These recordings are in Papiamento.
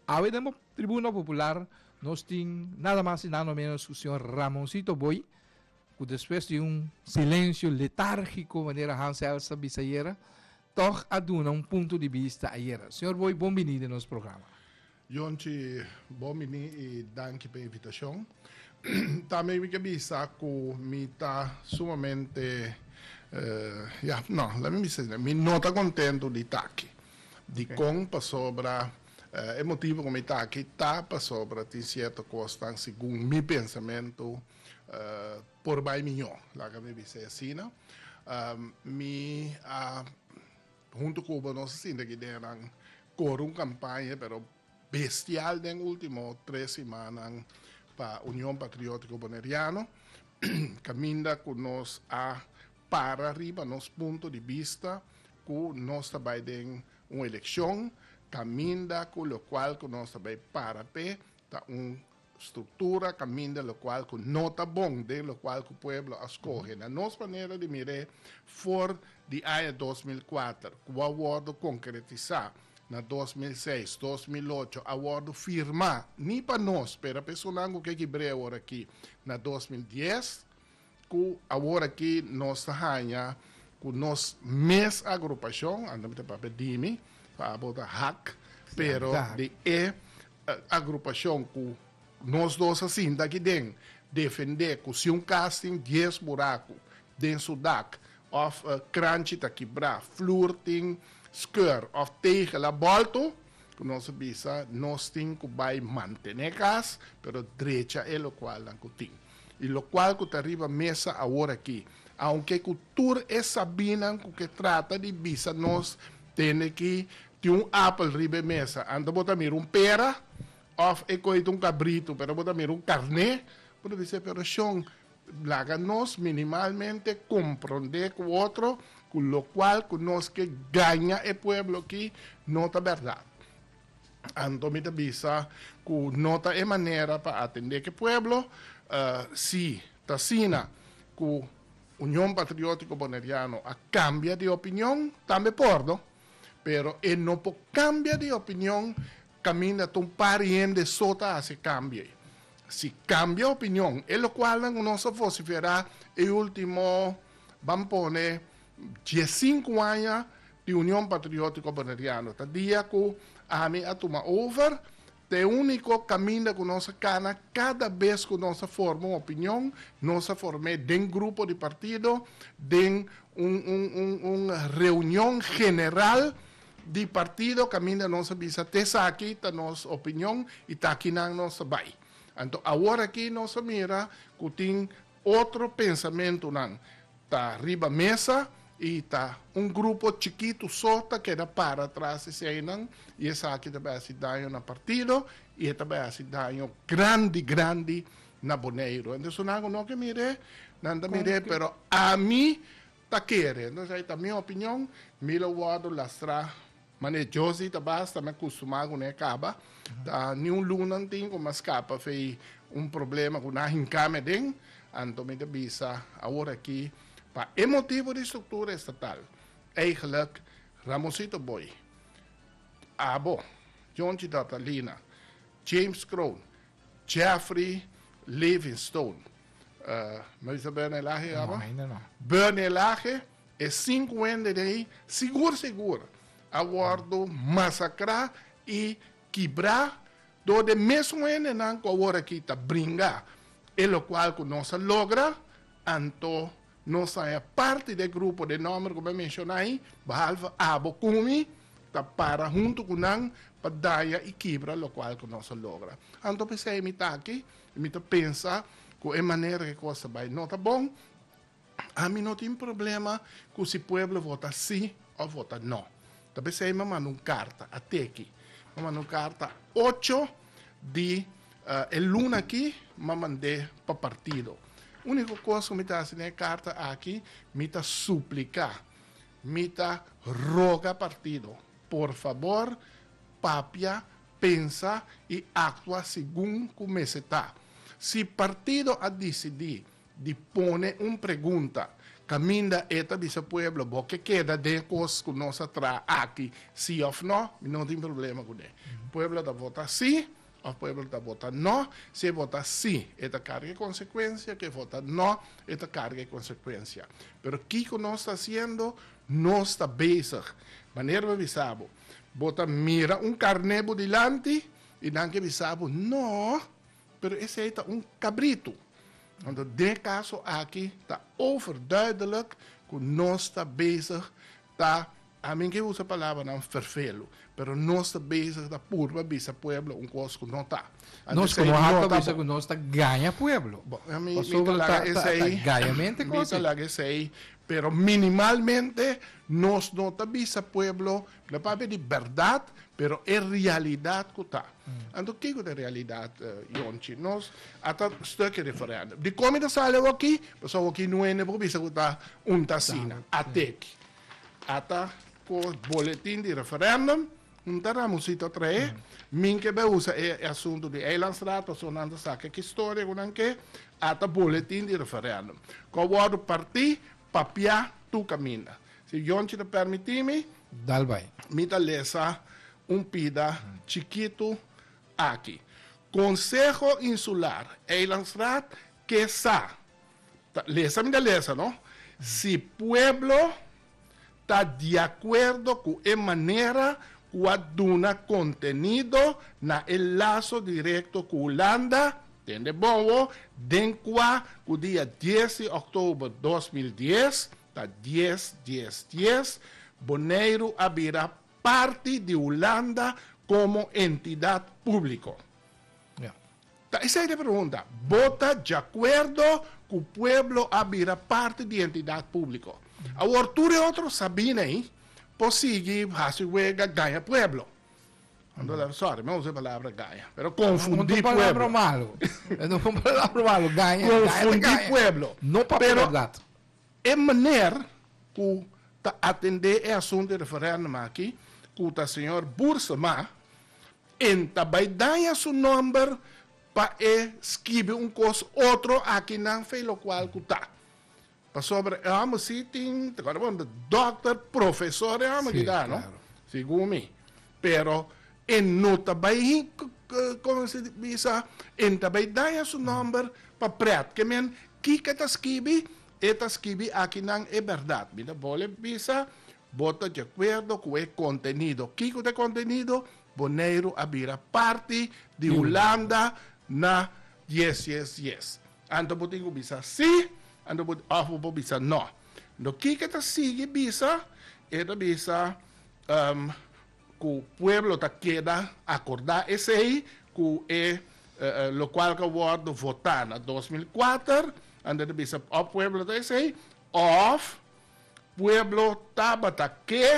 Awe den bo Tribuna Popular nos tin nada mas y nada menos cu señor Ramoncito Booi cu despues di un silencio letargico manera Han Zels a bisa ayera tog a duna un punto di bista ayera. Señor Booi bon bini den nos programa. Jonchi, bon bini y danki pa e invitacion. Tambe mi ke bisa ku mi ta sumamente, ya, no, la mi bisa asina, mi no ta kontentu di ta aki. Dikon? Pasobra e motibu ku mi ta aki ta pasobra tin sierto kosnan, segun mi pensamentu, por bai miñó, laga mi bisa e asina. Mi a, huntu ku bo, nos a sinti aki dje nan kore un kampaña, pero bestial den ultimo tres simannan pa Union Patriótico Boneriano, caminda cu nos a para riba nos punto di bista cu nos ta bay den un eleccion, caminda cu locual cu nos ta bay para p'e ta un Struktura, kaminda lokual ku no ta bon den lokual ku pueblo a skohe. Na nos manera di mir'é, for di aña dos mil kuater, ku a wòrdu konkretisá na dos mil seis, dos mil ocho, a wòrdu firmá, ni pa nos, pero pa esunnan ku ke ki breu orakí, na dos mil dies, Ku aworakí nos ta haña ku nos mes agrupashon, anto mi ta papia di mi, pa abo ta hak, pero di e agrupashon ku nos dos a sinta aki den, defendé ku si un kas tin dies buraku den su dak, òf kranchi ta kibrá, flur tin skeur òf tegel a bòltu, ku nos a bisa nos tin ku bai mantené e kas, pero drecha e lokual nan ku tin. y locual cu ta riba mesa awor aki, aunke cu tur e sabinan cu ke trata di bisa nos tende ki tin un apel riba e mesa, ante bo ta mira un pera of e coi ta un cabrito, pero bo ta mira un carne, bo ta bisa, pero shon, laga nos minimalmente compronde cu otro cu locual cu nos ke gaña e pueblo aki no ta berdad. Anto mi ta bisa ku no ta e manera pa atendé ke pueblo. Si ta asina ku Union Patriótiko Boneriano a kambia di opinion, tambe por no. Pero e no por kambia di opinion kaminda ta un par hende so ta hasi e kambio ei. Si kambia opinion, e lokualnan ku nos a vosiferá e último, ban pone, diesinku aña, di Union Patriótico Boneriano. Ta dia cu ami a tuma over, ta e unico caminda cu nos a cana cada bes cu nos a forma un opinion, nos a form'e den grupo di partido, den un reunion general di partido caminda nos a bisa ta esaki ta nos opinion y ta akinan nos ta bay. Anto awor aki nos a mira cu tin Otro pensamentunan ta riba mesa i ta un grupo chikitu so ta keda para atras di eseinan i esaki ta bai hasi daño na partido i e ta bai hasi daño grandi grandi na Boneiru. Entonces su nan ku no ke mir'e, nan ta mir'e pero ami ta kere. Entonces ei ta mi opinion, mi lo wòrdu lastrá. Mane e Josie ta basta me custumá cu ne caba, ta ni un lunan tin cu m'a scapa fey un problema cu n'a hinca me den, anto mi ta bisa awor aki pa e motibo di structura estatal, eigenlijk Ramosito Booi, abo, Johnchi Dortalina, James Kroon, Jeffrey Livinstone, uh, me bisa Bernelahe abo? Bernie Lahe. E sinku hende de ei sigur sigur a wòrdu masakrá i kibrá dor de e mesun hendenan ku aworakí ta bringa, e lokual ku nos a logra, anto nos ta haña parti di e grupo di nòmber ku mi a menshoná ei, behalve abo ku mi ta para huntu ku nan pa daña i kibra lokual ku nos a logra. Anto p'esei mi ta aki i mi ta pensa ku e manera ku e kos ta bai no ta bon. Ami no tin problema cu si pueblo vota si of vota no. Ta pesey mi a manda un carta ateki. Mi a manda un carta ocho di e luna aki, mi a mand'e pa partido. Unico cos cu mi ta haci den e carta aki, mi ta suplica, mi ta roga partido, por fabor papia, pensa y actua segun cu mester ta. Si partido a dicidi. di pone un pregunta caminda e ta bisa pueblo bo ke keda den e cos cu nos a traha aki si of no, mi no tin problema cu ne. Pueblo ta vota si of pueblo ta vota no, si e vota si e ta carga e consecuencia ke vota no e ta carga e consecuencia pero kico nos ta haciendo nos ta bezig manera bo bisa bo bo ta mira un carne bo dilanti y nan ke bisa bo no Pero esei ta un kabritu. Anto den kaso aki ta overduidelijk ku nos ta bezig ta, a mi ke usa palabranan vervelu, pero nos ta bezig ta purba bisa pueblo un kos ku no ta. Anto Nos esei komo no harta ta bisa bon. ku nos ta gaña pueblo. Bo, a mi, mi ta Pasobra laga ta, ta, ta esei, gañamente mi ta kote. laga esei, pero minimalmente nos no ta bisa pueblo Lo papia di berdad, pero e realidad cu ta. Anto kico ta e realidad, Yonchi? Nos a ta stuck e referendum. Dicon mi ta sali awaki? Pasobra awaki no hende por bisa cu ta un ta asina. Ateki a ta cu boletin di referendum, hunta Ramoncito a trae, mi ke bai usa e asunto di Eilandstraat pasobra nan ta saca e historia cu nan ke, a ta boletin di referendum. Cu a wordo parti Papia tu kaminda. Si Yonchi ta permiti mi. Dal bai. Mi ta lesa un pida chikitu aki. Konseho Insular Eilandsraad ke sa ta lesa mi ta lesa no si pueblo ta di acuerdo cu e manera cu a duna contenido na e laso directo cu Hulanda den de bowo den cua cu dia dies di october dos mil dies, ta dies, dies, dies, Boneiru a bira parti di Hulanda como entidad publico. Ta esei di pregunta, Bo ta diacuerdo cu pueblo a bira parti di entidad publico? Awor tur e otro sabina ei por sigui haci wega gaña pueblo. Sorry, mi a usa e palabra gaña, pero confundi pueblo. Confundi pueblo. E maner ku ta atendé e asuntu di referèndum aki, ku ta señor Boersema, en ta bai daña su nòmber pa e skibi un kos otro aki nan fe lokual ku ta. Pasobra e hòmber si tin, ta kòrda bo? Dòkter, profesor e hòmber kita no, segun mi. Pero e no ta bai Kon se bisa? E ta bai daña su nòmber pa prèt. Ke men Kika ta skibi? E ta skibi, Aki nan e bèrdat. Mi ta bole bisa, Bo ta diakuerdo ku e kontenido. Kiko ta e kontenido? Boneiru a bira parti di Hulanda na yes yes yes. Anto bo tin ku bisa si, anto bo òf bo bisa nò. Kika ta sigui bisa? E ta bisa, Ku pueblo ta keda akordá esei ku e lokual ku a wòrdu votá na dos mil kuater, anto ta bisa òf pueblo ta esei òf pueblo tabata ke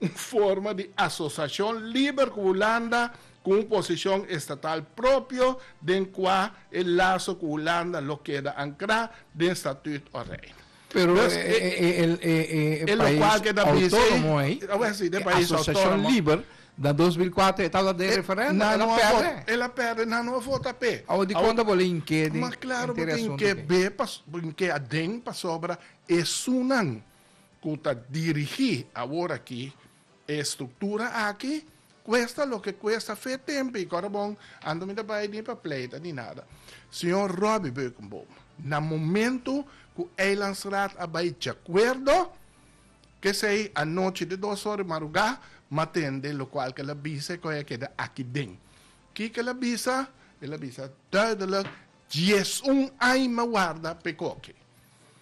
un forma di asosiashon liber ku Hulanda ku un posishon estatal propio den kua e laso ku Hulanda lo keda ankrá den statùt òf Reino. Pero e, e, e, e, e país autónomo ei, e asociación liber, na 2004 e tabla de referéndum, e la perde. E la perde, nan no a vota pe. Awo di konta bo la hink'é den Ma klaro bo ta hink'é be, hink'é aden pasobra esunnan ku ta dirigí aworakí E structura aki cuesta loke cuesta fe tempo y corabon anto mi ta bay ni pa pleita ni nada Señor Robbie Beukenboom na momento cu Eilandsraad a bay djacuerdo kesey anochi de dos ora di maruga ma tende locual ke la bisa e coya keda aki den kiko la bisa el a bisa duidelijk diesun aña warda pe coke.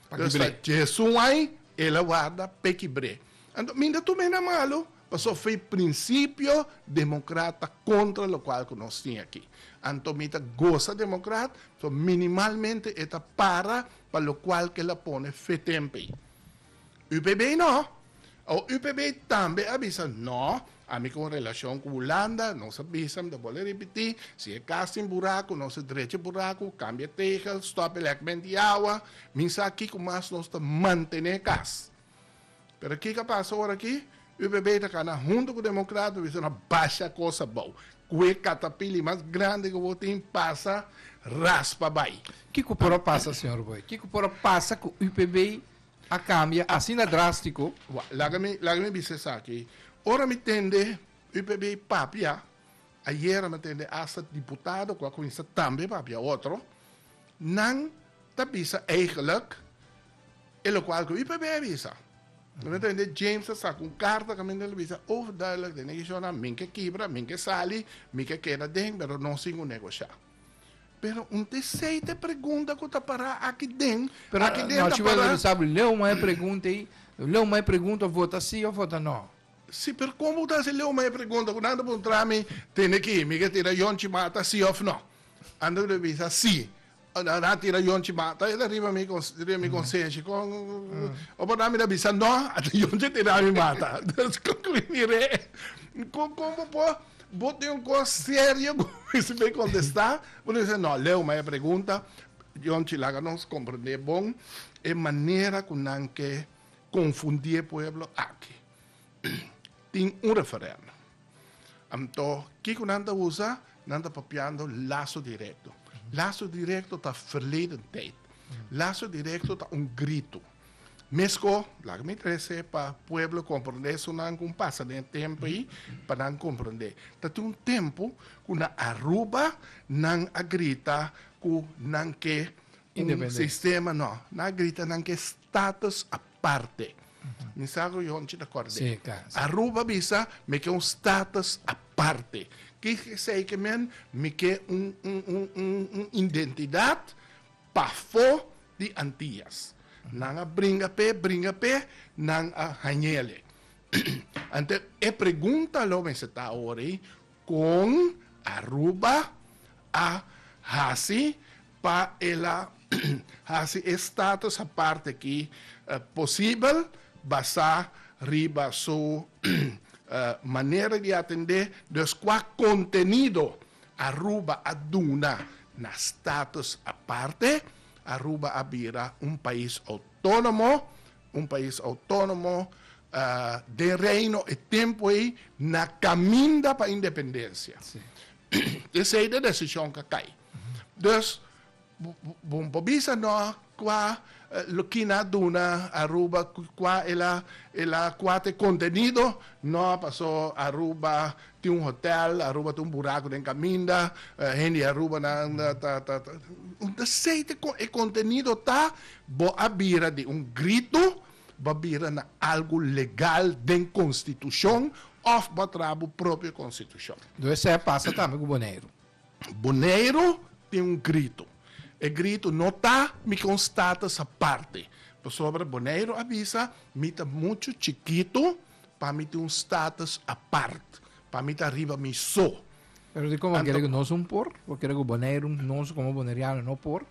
Pakibre. Jesu wai, el a warda pekibre. Anto, minda tur mene a malu, paso f'e prinsipio demokrata kontra lokual ku nos tin aki. Anto, mi ta gosa demokrat, so minimalmente e ta para pa lokual ku el a pone f'e tempe. UPB no. O UPB tambe a bisa no, ami con relacion cu Hulanda, nos a bisa, mi ta bole repeti, si e cas tin buracu, nos a drecha e buracu, cambia e tegel, stop e lekband di awa, mi sa kico mas nos ta mantene e cas. Pero kico a pasa ora aki? Ppp ta kana hunto ku Democraten bisa na basha kos abou kue katapili mas grandi ku bo tin pasa raspa bai. Kiko por a pasa señor Boy? Kiko por a pasa ku UPB a kambia asina drastiko? Wak, laga mi laga mi bisa esaki. Ora mi tende UPB papia, ayera mi tende asta diputado ku a kuminsa tambe papia otro, nan ta bisa eigenlik, E lokual ku i p'e b'e a bisa. Eventualmente James a saka un karta kaminda el a bisa overduidelijk den e kishonnan, mi ke kibra, mi ke sali, mi ke keda den, pero no sin un negoshá. Pero un teseite pregunta ku ta pará aki den, aki den ta pará. Pero nochi wòrdu mi sa ku leu mai pregunta ei, leu mai pregunta òf vota sí òf vota nò. Sí, pero komo ku ta hasi leu mai pregunta ku nan ta puntra mi, tende ki mi ke tira Yonchi mata sí òf nò? Anto mi ta bisa sí, Nan a tira yonchi mata el riba mi riba mi konsenshi kon o por nan mi ta bisa no ata yonchi a tira mi mata nos konkluí re kon kon bo por bo tin un kos serio ku bo mester bay kontestá bo ta bisa no leu maya pregunta yonchi laga nos komprendé bon e manera ku nan ke konfundí e pueblo aki. tin un referendo. Anto, kiko nan ta usa? Nan ta papiando laso direkto. Laso direkto ta verleden tijt. Laso direkto ta un grito. Mesko, laga mi trese pa pueblo komprende esonan ku pasa den tempu ei, pa nan komprende. Ta tin un tempu ku na Aruba nan a grita ku nan ke un sistema, no, nan a grita nan ke status. aparte. Mi sa cu yo anchi ta acorda di e. Aruba bisa, Mi ke un status aparte. Ki esey ke men? Mi ke un identidad pafo di Antillas. Nan a bringa p'e, bringa p'e, nan a hañe'le. Anto e pregunta lo mester ta awor ei, Con Aruba a haci pa el a hasi e status aparte aki posibel basá riba su manera di atendé, dus kua kontenido Aruba a duna na status aparte? Aruba a bira un pais outónomo, un pais outónomo den Reino e tempu ei na kaminda pa independensia. P'esei e desishon ka kai. Dus, bo por bisa no kua Lukina a duna Aruba, kua el a, el a kua ta e kontenido? No, paso Aruba tin un hotel, Aruba tin un buraku den kaminda, hende di Arubanan ta, ta, ta. Esei ta kon e kontenido ta, bo a bira di un gritu, bo a bira na algu legal den konstitushon òf bo a traha bo propio konstitushon. Dus esei a pasa tambe ku Boneiru. Boneiru tin un grito. E grito no ta mi con status aparte. Pasobra Boneiru a bisa mi ta mucho chikitu pa mi tin un status apart, pa mi ta riba mi so. Pero di como a kere cu nos un por? Bo kere cu Boneiru, nos como Boneriano no por?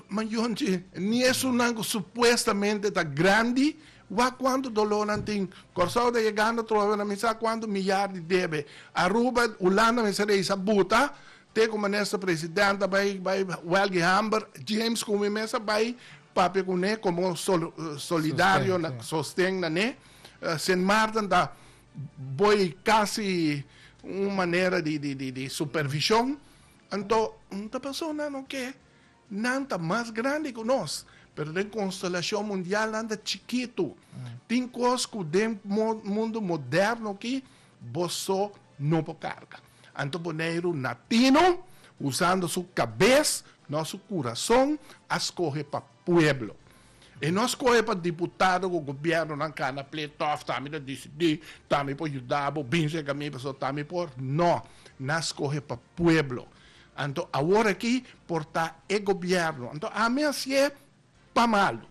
Mayonchi, ni esunnan ku supuestamente ta grandi, wak kuantu doló nan tin. Kòrsou ta yegando trofe na mi sa kuantu miyar di debe. Aruba, Hulanda mester a hisa buta, te ku minister president ta bai bai wèlgi hamber, James ku mi mes a bai papia kuné komo solidario na sosten na ne. Sint Maarten ta bai kasi un manera di di di supervishon. Anto, no ta pasa nan oke nan ta mas grandi ku nos, pero den konstelashon mundial nan ta chikitu. Tin kos ku den mundu moderno aki bo so no por karga. Anto Boneiru na tinu, usando su kabes, no su kurason, a skohe pa pueblo. E nos cohe pa diputado cu gobiernonan cana pleito of ta mi ta dicidi, ta mi por yuda bo, bin cega mi pasobra ta mi por, no, nos cohe pa pueblo. Anto awor aki por ta e gobierno. Anto ami a sie pa malo,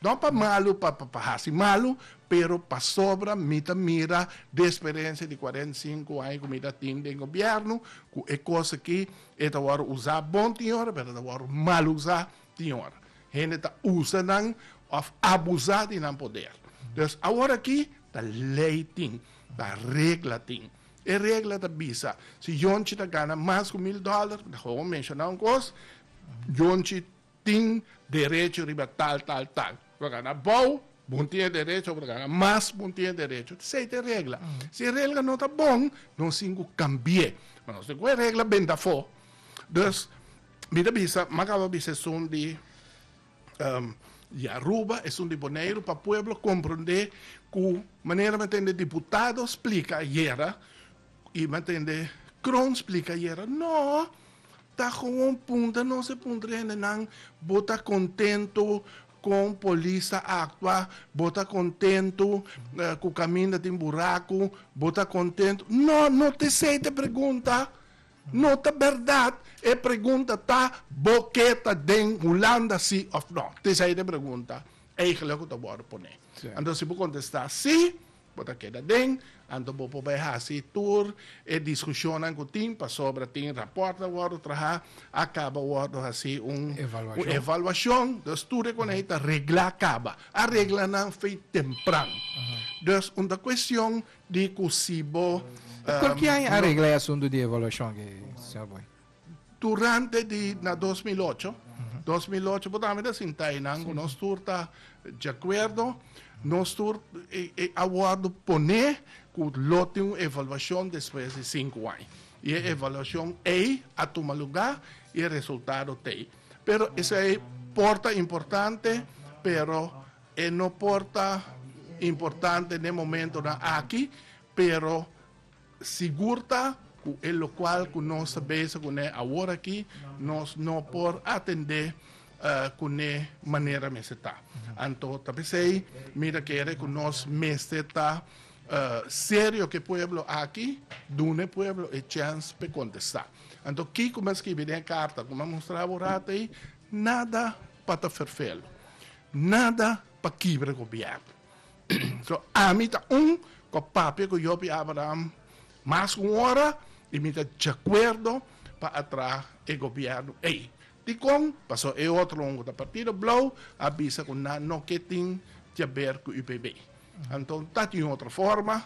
no pa malo pa pa haci malo, pero pasobra mi ta mira de experiencia di cuarenta y cinco aña cu mi ta tin den gobierno cu e cos aki e ta wor usa bon tin ora pero e ta wor mal usa. Tin ora hende ta usa nan of abusa di nan poder. Entonces awor aki ta ley tin, ta regla tin. E regla ta bisa si yonchi ta gana mas cu mil dollar, ta howo menciona un cos, yonchi tin derecho riba tal, tal, tal. Por gana abao, bo tin e derecho, por gana mas, bo tin e derecho. Esey ta e regla. Si e regla no ta bon, nos tin cu cambie. Nos tin cu e regla bend afo. Mi ta bisa m'a kaba bisa esun di di Aruba, esun di Boneiru pa pueblo komprondé ku manera mi a tende diputado splika ayera i mi a tende Kroon splika ayera no ta gewoon puntra nos e puntra di hendenan bo ta kontentu kon polis ta aktua, bo ta kontentu ku kaminda tin buraku, bo ta kontentu no no t'esei t'e pregunta No ta berdad e pregunta ta bo ke ta den Hulanda si of no. T is ahí de pregunta eigenlijk ku ta wòrdu pone. Anto si bo kontestá si, bo ta keda den, anto bo prob'é hasi tur e diskushonnan ku tin pasobra tin rapòrt a wòrdu trahá, a kaba wòrdu hasi un evaluashon. Dus tur e konei ta reglá kaba. A reglanan fei tempran. Dus un ta kuestion Di cu si bo. E por ki aña a regla e asuntu di evaluacion aki, señor Booi? Durante di na dos mil ocho, dos mil ocho bo tambe ta sinta eynan cu nos tur ta djacuerdo, nos tur a wordo pone cu lo tin un evaluacion despues di sinku aña. Y e evaluacion ey a tuma luga y e resultado ta ey. Pero esey por ta importante, pero. E no por ta importante n'e momentonan aki, pero sigur ta cu e locual cu nos ta bezig cu ne aworaki, nos no por atende cu n'e manera mester ta. Anto ta pesey mi ta kere cu nos mester ta serio k'e pueblo aki, duna e pueblo e chance p'e contesta. Anto kico mi a skibi den e carta cu mi a mustra aworatey? Nada! pa ta ferfel, nada pa kibra gobièrnu. So, ami ta un ku a papia ku Yòbi Abraham mas ku un ora, i mi ta djakuerdo pa a traha e gobièrnu ei. Dikon? Pasó e otro un ku ta Partido Blou a bisa ku nan no ke tin diaber ku UPB. Anto ta tin otro forma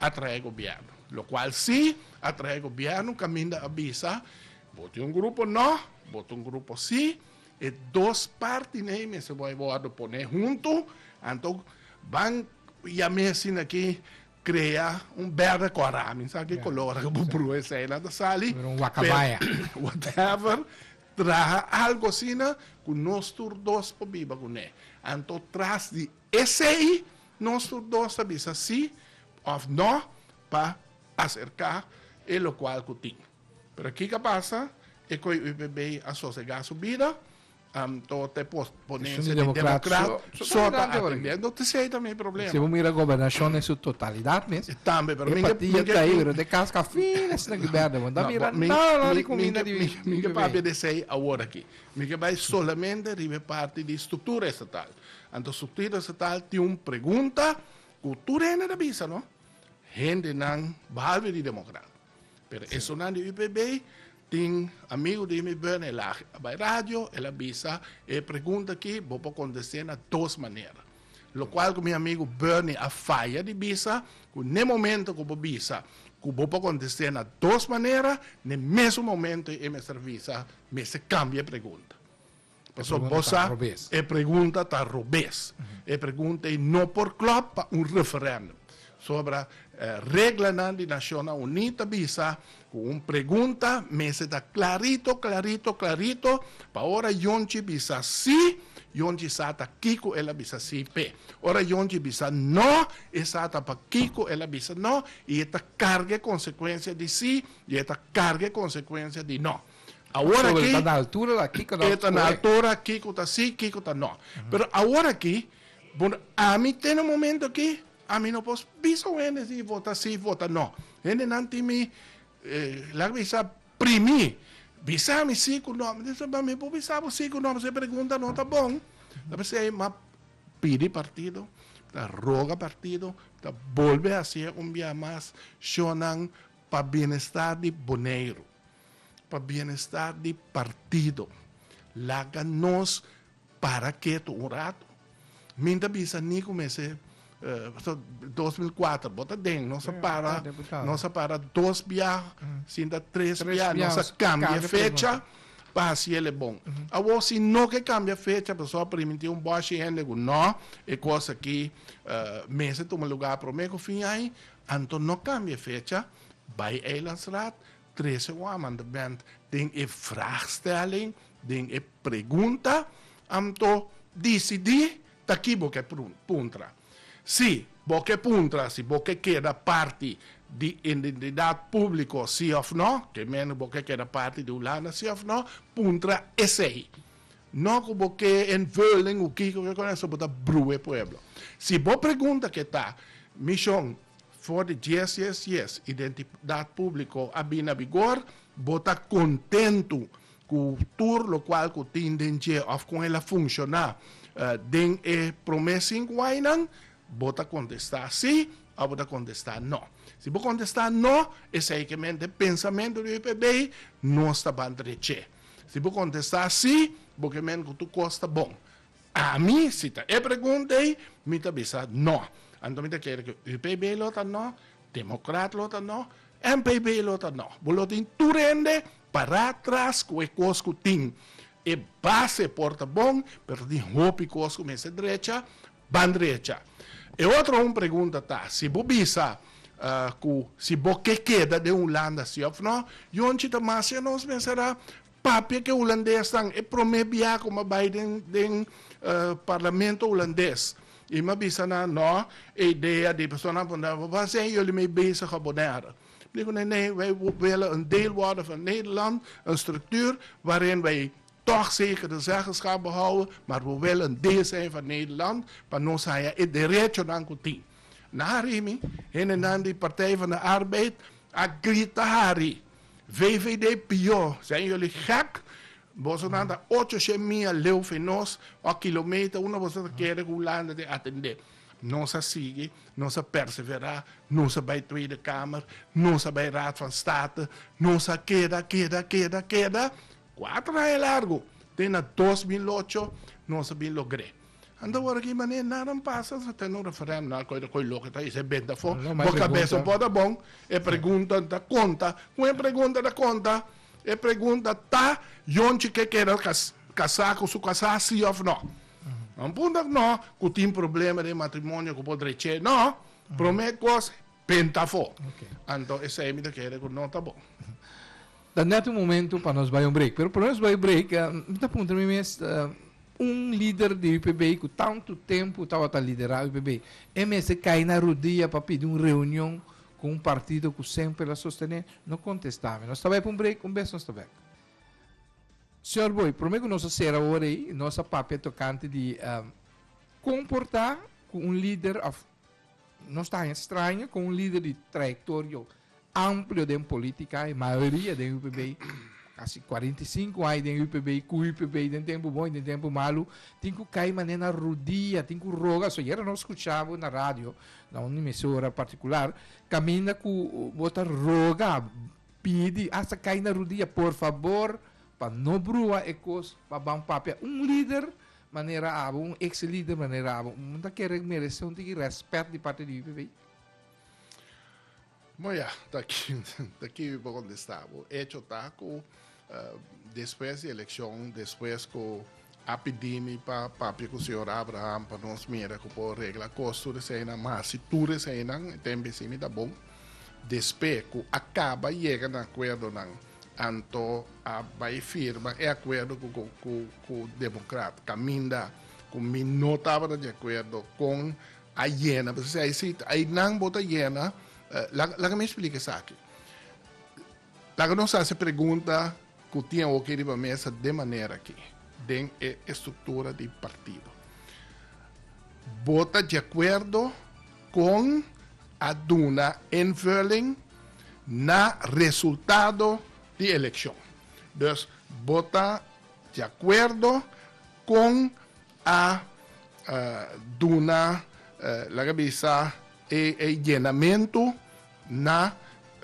a traha e gobièrnu. Lokual si a traha e gobièrnu kaminda a bisa bo tin un grupo no, bo tin un grupo si, E dos partenan ei mester por wòrdu pone huntu, anto ban yam'é asina ki krea un bèrda kòrá, mi sa ki kolor ku bo brua esei la ta sali, pero whatever, traha algu asina ku nos tur dos por biba kuné. Anto tras di esei nos tur dos ta bisa sí òf nò pa aserká e lokual ku tin. Pero kiko a pasa? E coi UPB a sosega su bida, anto ta e ponencia di democrat so ta atendiendo. Anto ta ey ta mi problema. Si bo mira gobernacion den su totalidad mes, e partido ta ey, pero te casca fin esnan ki berde bo. No mira nada di cuminda di UPB. Mi ke papia di esey awor aki. Mi ke bay solamente riba e parti di structura estatal. Anto structura estatal tin un pregunta cu tur hende ta bisa no, hendenan, behalve di democrat. Pero e sunan di UPB tin amigo di mi buen el a bai radio el a bisa e pregunta aki bo por contesté na dos manera lo cual cu mi amigo Bernie a faya di bisa cu n'e momento cu bo bisa cu bo por contesté na dos manera n'e mesun momento e mester bisa mester cambia e pregunta Pasobra no ta robes. Pasobra e pregunta ta robes. E pregunta ei no por klòp pa un referèndum. Pasobra reglanan di Nashona Uní ta bisa ku un pregunta mester ta klarito, klarito, klarito pa ora yonchi bisa sí, yonchi sa ta kiko el a bisa sí p'e. Ora yonchi bisa no, e sa ta pa kiko el a bisa no i e ta karga e konsekuensia di sí i e ta karga e konsekuensia di no. Awor aki, e ta na altura la kiko ta, e ta na altura kiko ta si, kiko ta no. Pero awor aki, bon, ami te na momento aki, ami no por bisa un hende si vota si, vota no. Hendenan tin mi, laga mi bisa, primi, bisa mi si ku no. Mi ta bisa, mi por bisa bo si ku no, pasobra e pregunta no ta bon. Ta p'esei m'a pidi partido, ta roga partido, ta bolbe hacia un bia mas shownan pa bienestar di Boneiru. Pa bienestar di partido. Laga nos para ketu un ratu. Mi ta bisa Nico mester dos mil kuater bo ta den nos a para nos a para dos bia sinta tres bia nos a kambia fecha pa hasi el e bon. Awor si no ke kambia fecha pasobra por miinti un bòshi hende ku nò e kos aki mester tuma lugá promé ku fin ai anto no kambia fecha bai Eilandsraad Trece wou a manda band den e vraagstelling, den e pregunta, anto dicidi ta ki bo ke puntra. Si bo ke puntra si bo ke keda parti di indentidad publico si of no, ke mene bo ke keda parti di Hulanda si of no, puntra esey. No ku bo ke invulling ku kiko ke konesa bo ta bruwe pueblo. Si bo pregunta ke ta, Michon, For di dies dies dies identidat publico a bin na bigor, bo ta contentu cu tur locual cu tin den dje of con el a funciona den e prome cinco añanan? Bo ta contesta si of bo ta contesta no. Si bo contesta no, esey ke mente pensamento di UPB nos ta ban treche. Si bo contesta si, bo ke mente cu tur cos ta bon. Ami, si ta e pregunta ei, mi ta bisa no. Anto mi ta kere ku UPB lo ta no, Demokrat lo ta no, NPB lo ta no. Bo lo tin tur hende pará tras ku e kos ku tin e base por ta bon, pero tin hopi kos ku mester drecha, ban drecha. E otro un pregunta ta, si bo bisa ku si bo ke keda den Hulanda si òf no, yonchi ta mas, nos mester a Papia ke hulandesnan e prome biaha ku m'a bai den den parlamento hulandes i m'a bisa nan no e idea di personanan por nan wan sen yoli mei bezig a Bonaire. M'i di ku nan nee wei wille un deel worde van Nederland, un struktuur waarin wei tog zekere zeggenschap behouden maar we wille un deel sein van Nederland pa nos haya e derechonan ku tin. Na Harini hende nan di Partij van de Arbeid a grita Hari! VVD pió, zijn jullie gek? Bosonan ta ocho shee mia leu fe nos, o kilometer una boso ta kere ku Hulanda tin atendé. Nos a sigui, nos a perseverá, nos a bai Tweede Kamer, nos a bai Raad van State, nos a keda, keda, keda, keda, kuater aña largu, te na dos mil ocho nos a bin logr'é. Anda ora aki manera naran pasa ta tene un referendum nan koe ta koe loke ta ese bent afo bo kabesa un po ta bon e pregunta ta konta kon e pregunta ta konta e pregunta ta yonchi ke keda kasa ku su kasa si of no nan punto tak no ku tin problema den matrimonio ku por dreche no prome kos bent afo anto esei mi ta kere ku no ta bon. Ta net un momento pa nos bai un break. Pero prome nos bai break, mi ta puntra mi mes, un lider di UPB ku tantu tempu tabata liderá UPB, e mester kai na rudia pa pidi un reunion ku un partido ku semper a sostené? No kontestá mi. Nos ta bai pa un break, un bes nos ta bek. Señor Booi, prome ku nos a sera ora ei, nos a papia tokante di komportá ku un lider of Nos ta haña straño ku un lider di trayektorio amplio den politika i mayoria den UPB, kasi 45 aña den UPB, ku UPB den tempu bon i den tempu malu, tin ku kai manera na rudia, tin ku roga. So yera no skucha bo na radio, na un emisora partikular, kaminda ku bo ta roga, pidi, asta kai na rudia, por fabor, pa no brua e kos, pa ban papia. Un lider Manera abo un ex lider manera abo un ta kere merese un tiki respet di parte di UPV? Bo ya, ta ki ta ki mi por kontesta bo. Echo ta ku despues di elekshon, despues ku a pidi mi pa papia ku señor Abraham pa nos mira ku por regla kos tur eseinan, masi tur eseinan, e temp esei mi ta bon. Despe ku a kaba yega na akuerdonan, anto a bai firma e akuerdo ku demokrat, kaminda ku mi no tabata di akuerdo kon a yena. P'esei si ainan bo ta yena, laga mi splika esaki. Laga nos hasi pregunta ku tin hopi riba mesa den manera aki, den e estruktura di partido. Bo ta di akuerdo kon a duna invulling na resultado di elekshon? Dus bo ta di akuerdo kon a duna, laga bisa, e yenamentu? Na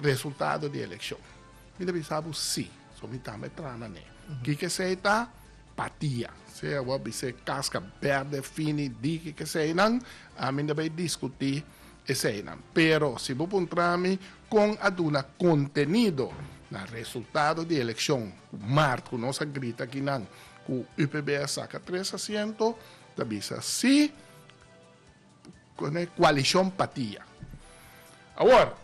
resultado di eleccion. Mi ta bisa bo si. So mi tambe tra na ne. Kiko esey ta? Patia. Sea bo a bis'e casca berde, fini, di kiko esey nan, ami no bay discuti esey nan. Pero si bo puntra mi con a duna contenido na resultado di eleccion cu mart cu nos a grita aki nan cu UPB a saca tres asiento, ta bisa si. Coalicion Patia. Awor,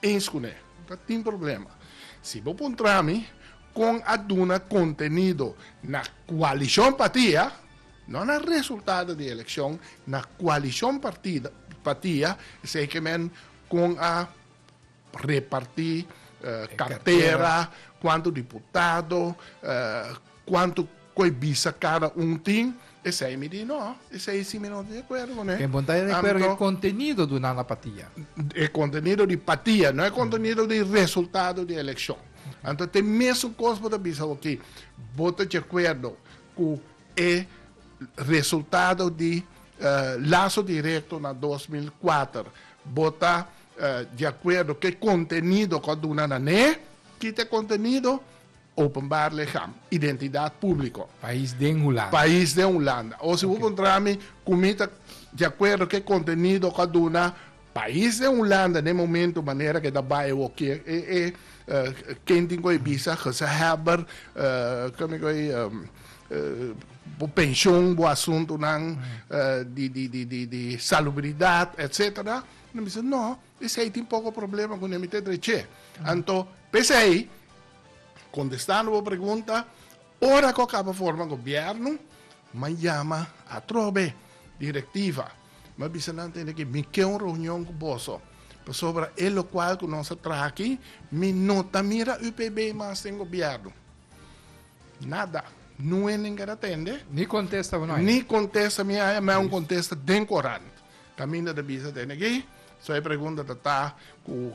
Eens cu ne, ta tin problema. Si bo puntra mi con a duna contenido na Coalicion Patia, no na resultado di eleccion, na Coalicion Patia, esey ke men con a. Repartí kartera, kuantu diputado, kuantu koe bisa kada un tin, esei mi di no, esei si mi no ta di akuerdo ku ne. E bon ta di akuerdo ku e kontenido di un aña patia. E kontenido di patia, no e kontenido di resultado di elekshon. Anto te mesun kos bo ta bisa oki, bo ta di akuerdo ku e resultado di laso direkto na dos mil kuater, bo ta Di akuerdo ku e kontenido ku a duna na n'e. Kita e kontenido, Openbaar lichaam, identidaad públiko. Pais den Hulanda. Pais den Hulanda. O si bo kontrá mi ku mi ta di akuerdo ku e kontenido ku a duna Pais den Hulanda n'e momentu manera ku e ta bai e wou ke e ken tin ku e bisa gezahelber ke mi ku ei bo penshon bo asuntunan di salubridat etsetera. Nan bisa, No, esei tin poko problema ku Nemitek dreché. Anto, p'esei, kontestando bo pregunta, ora ku a kaba forma gobièrnu, m'a yama atrobe direktiva, m'a bisa nan tende ke mi ke un reunion ku boso, pasobra e lokual ku nos a traha aki, mi no ta mira UPB mas den gobièrnu. Nada, nuen nen keda tende. Ni kontesta bo no haya. Ni kontesta mi haya, mi haya un kontesta den korant. Caminda ta bisa te niki, so e pregunta ta ta cu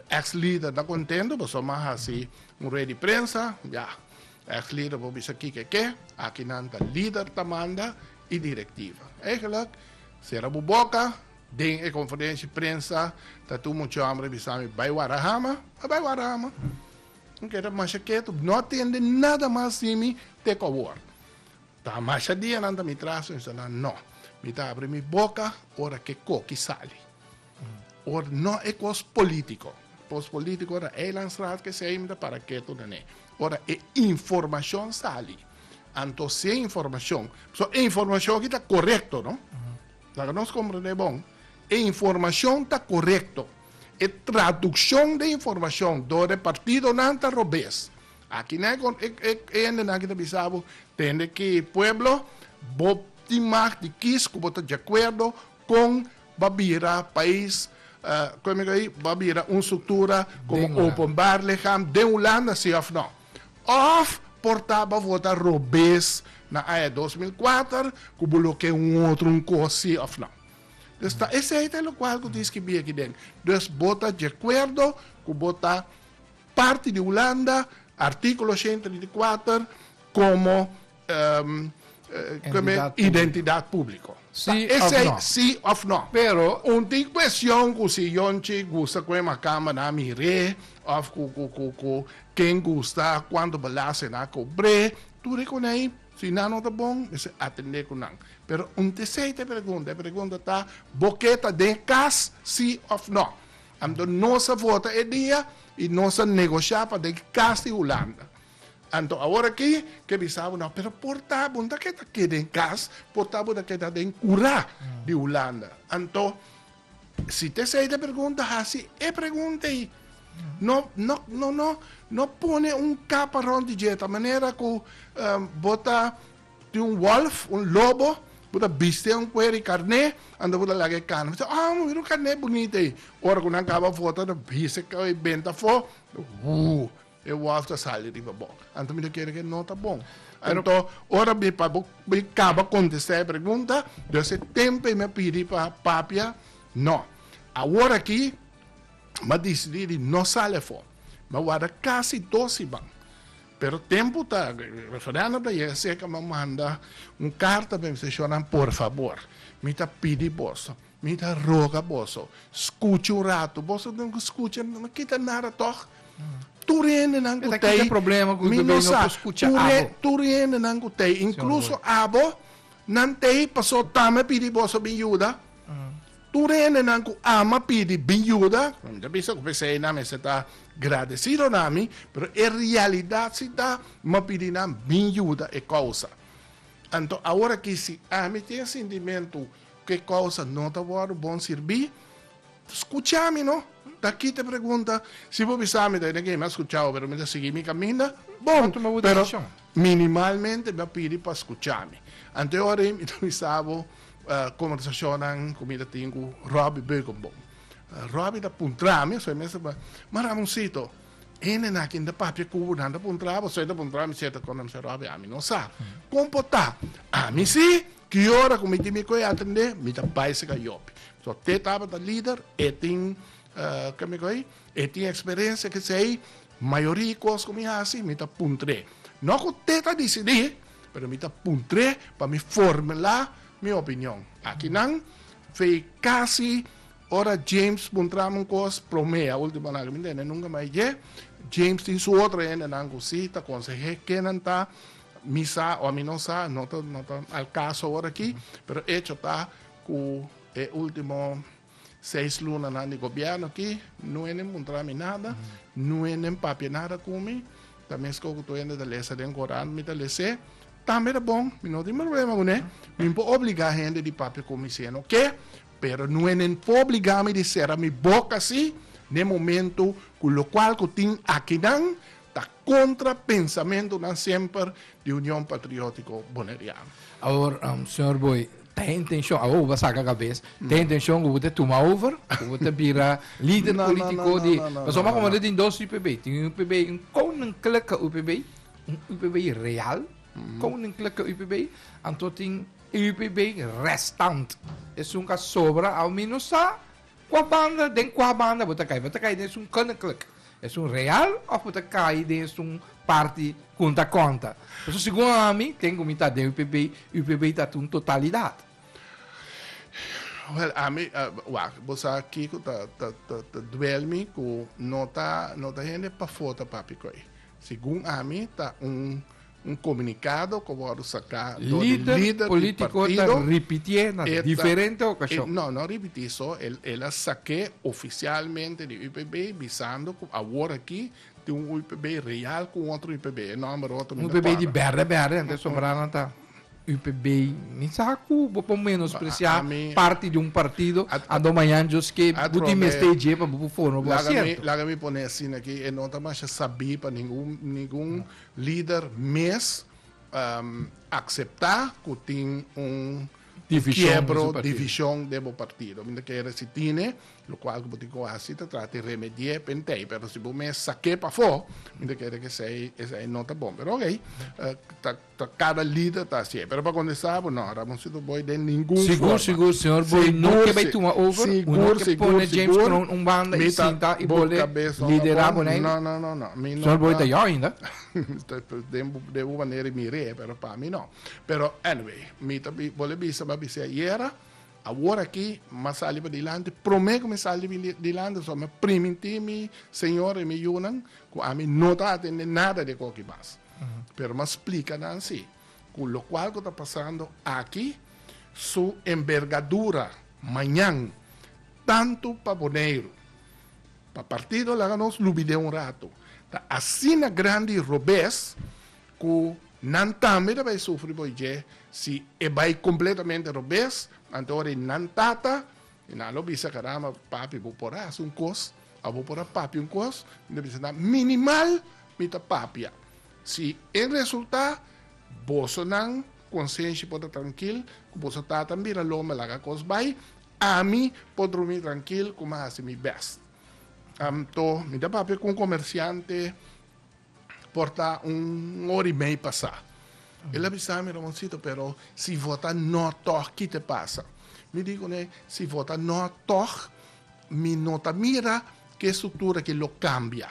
ex lider ta contento pasobra mi a haci un rueda di prensa, ya, ex lider por bisa kiko ke, aki nan ta lider ta manda y directiva. Eigenlijk, cera bo boca, den e conferencia di prensa ta tin un mucha hombre bisa mi bay wara hama, a bay wara hama, mi keda masha keto, no tende nada mas di mi te cu awor. Ta masha dia nan ta mi traha su insta nan no mi ta abri mi boca ora ke koki sali or no e kos politico kos politico na eilandstraat kesei mi ta para ketu nan e ora e informacion sali anto si e informacion so e informacion aki ta corecto no laga nos comprende bon e informacion ta corecto e traduccion de informacion door e partidonan ta robes Aki nan e hendenan aki ta bisa bo, Tende ki pueblo, bo tin mag di kis ku bo ta diakuerdo kon ba bira pais, kon mi go ei, ba bira un struktura komo openbaar licham den Hulanda, si òf nò. Òf por ta ba vota robes na aña dos mil kuater ku bo lo ke un otro un kos, si òf nò. Dus ta esei ta e lokual ku tin skibi aki den. Dus bo ta diakuerdo ku bo ta. parti di Hulanda, artíkulo ochenta di di kuater, komo identidat públiko. Sí òf nò. Sí òf nò. Pero. Un tin kueshon ku si yonchi gusta ku e makamba nan mir'é òf ku ken gusta kuantu balaste nan a kobr'é, tur e konei, si nan no ta bon, mester atendé ku nan. Pero un tc ta pregunta, e pregunta ta, bo ke ta den kas, sí òf nò? Anto nos a vota e dia y nos a negosha pa den cas di Hulanda. Anto awor aki ke bisa bo no, pero por ta bo no ta ke ta keda den cas, por ta bo ta keda den cura di Hulanda. Anto si TCI ta pregunta, haci e pregunta ey. No, no, no, no, no pone un capa rond di dje ta manera cu bo ta, Tin un wolf, un lobo, ku ta biste un kuer di karné, anto ku ta laga e karné. Mi ta oh, mira un karné bunita ei. Ora ku nan kaba vota, ta bisa e bent afó, wuu, e wolf ta sali riba bo. Anto mi ta kere ke no ta bon. Anto, ora mi pa bo mi kaba kontestá e pregunta, dus e tempu ei mi a pidi pa papia, no. Awor aki, mi a disidí di no sali afó. Mi a warda kas i dos iban. Pero tempu ta referendo ta yega serka mi a manda un carta pa mi ta shona por favor mi ta pidi boso mi ta roga boso scucha un rato boso tin cu scucha no kita nada toch tur hende nan cu ta ayi mi no sa tur hende nan cu ta ayi incluso abo nan ta ayi paso ta mi a pidi boso bin yuda Tur hendenan ku ama pidi mi yuda. Mi ta bisa ku p'esei nan mester ta gradesido na mi, pero e realidat si ta mi pidi nan mi yuda e kousa. Anto awor aki si ami tin e sintimentu ku e kousa no ta wòrdu bon sirbí, skucha mi no. Ta kit e pregunta. Si bo bisa mi ta kende ke mi a skuchau pero mi ta sigui mi kaminda, bon, pero minimalmente mi a pidi pa skucha mi. Anto e ora ei mi ta bisa bo. Conversacionnan cu mi ta tin cu Robbie Beukenboom. Robbie ta puntra mi, asoi mi a siba, Ma Ramoncito, ene na kin ta papia cu bo, nan ta puntra bo, asoi ta puntra mi siete cona? Mi siba, Robbie, ami no sa con por ta. Ami si, ki ora cu mi tin mi coe atende, mi ta bai si gayopi. So, te tabata lider, e tin, kico mi coe, e tin experiencia, kesey, Mayoria cos cu mi haci mi ta puntr'é. No cu te ta dicidi, pero mi ta puntr'é pa mi formulá mi opinion. Akinan fey casi ora James puntra'm un cos prome a ultimo laga mi tende nunca mai dje. James tin su otro hendenan cu si ta conseh'é ke nan ta mi sa o ami no sa, no ta al caso ahora aki, pero echo ta cu e ultimo. Seis lunanan di gobièrnu aki, no enen muntra mi nada, no enen papia nada ku mi. Ta meskos ku tur hende ta lesa den korant, mi ta les'é. Tambe ta bon, mi no tin problema kuné. Mi por obligá hende di papia ku mi si e no ke, pero no enen por obligá mi di sera mi boka así den momentu ku lokual ku tin akinan Ta contra pensamentonan semper di Union Patriotico Boneriano. Awor, Señor Booi, ta e intencion, awor bo ta saca cabes, ta e intencion cu bo ta tuma over, cu bo ta bira lider politico di. Pasobra mi a comanda tin dos UPB. Tin un UPB, un koninklijke UPB, un UPB real, koninklijke UPB, anto tin e UPB restant. Esun cu a sobra, al mi no sa. Kua banda, den kua banda bo ta kai? Bo ta kai den esun koninklijk, esun real of bo ta kai den esun parti ku un ta konta? Pasobra segun ami, den ku mi ta den UPB, UPB ta un totalidat. Wèl, ami, wak, bo sa kiko ta ta ta ta duel mi ku no ta no ta hende pafó ta papia ku ei. Segun ami ta un Un komunikado ku a wòrdu saká dor e lider di partido e no no ripitié so el a sak'é ofisialmente di UPB bisando ku awor aki tin un UPB real ku un otro UPB e nòmber otro mi no kòrdá. Un UPB di bèrdè bèrdè anto sobrá nan ta UPB mi sa ku bo por menospresiá parti di un partido anto mañan djos ke bo tin mester e dje pa bo por forma bo asierto. Laga mi pon'é asin aki e no ta masha sabí pa ningun Lider mes akseptá ku tin un kiebro, divishon den bo partido. Mi ta kere si tine lokual ku bo tin ku hasi ta trata di remedi'é p'entei. Pero si bo mes sak'é pafó mi ta kere ku esei no ta bon. Pero okey ta kada lider ta hasi'é. Pero pa kondensá bo no, Ramoncito Boy den ningun forma. Sigur sigur señor Boy no ke bai tuma over, bo no ke pone James Crown un banda i sinta i bo le lidera bo nei. Mi no ta. Sol bo e ta jou ainda? De un manera e mira e, pero pa mi no. Pero anyway, mi ta bo le bisa bo a bisa ayera, awor aki m'a sali padilanti. Prome ku mi sali padilanti so mi primintí mi señor i mi yunan ku ami no ta atende nada di e koki mas. Pero m'a splika nan si ku lokual ku ta pasando aki su enbergadura mañan tantu pa Boneiru. Pa partido laga nos lubidé un rato. Ta asina grandi robes ku nan tambe ta bai sufri por dje. Si e bai kompletamente robes, anto ora i nan tata i nan lo bisa, Karamba, papi bo por a hasi un kos, a bo por a papia un kos? Mi ta bisa nan, minimal mi ta papia. Si e resultá, boso nan konsenshi por ta trankil ku boso tata a bira lo mi a laga kos bai. Ami por drumi trankil ku mi a hasi mi bèst. Anto mi ta papia ku un komersiante por ta un ora i mei pasá. El a bisa mi, Ramoncito, pero si vota no tòg, ki ta pasa? Mi di kuné, Si vota no tòg, mi no ta mira ku e struktura akí lo kambia.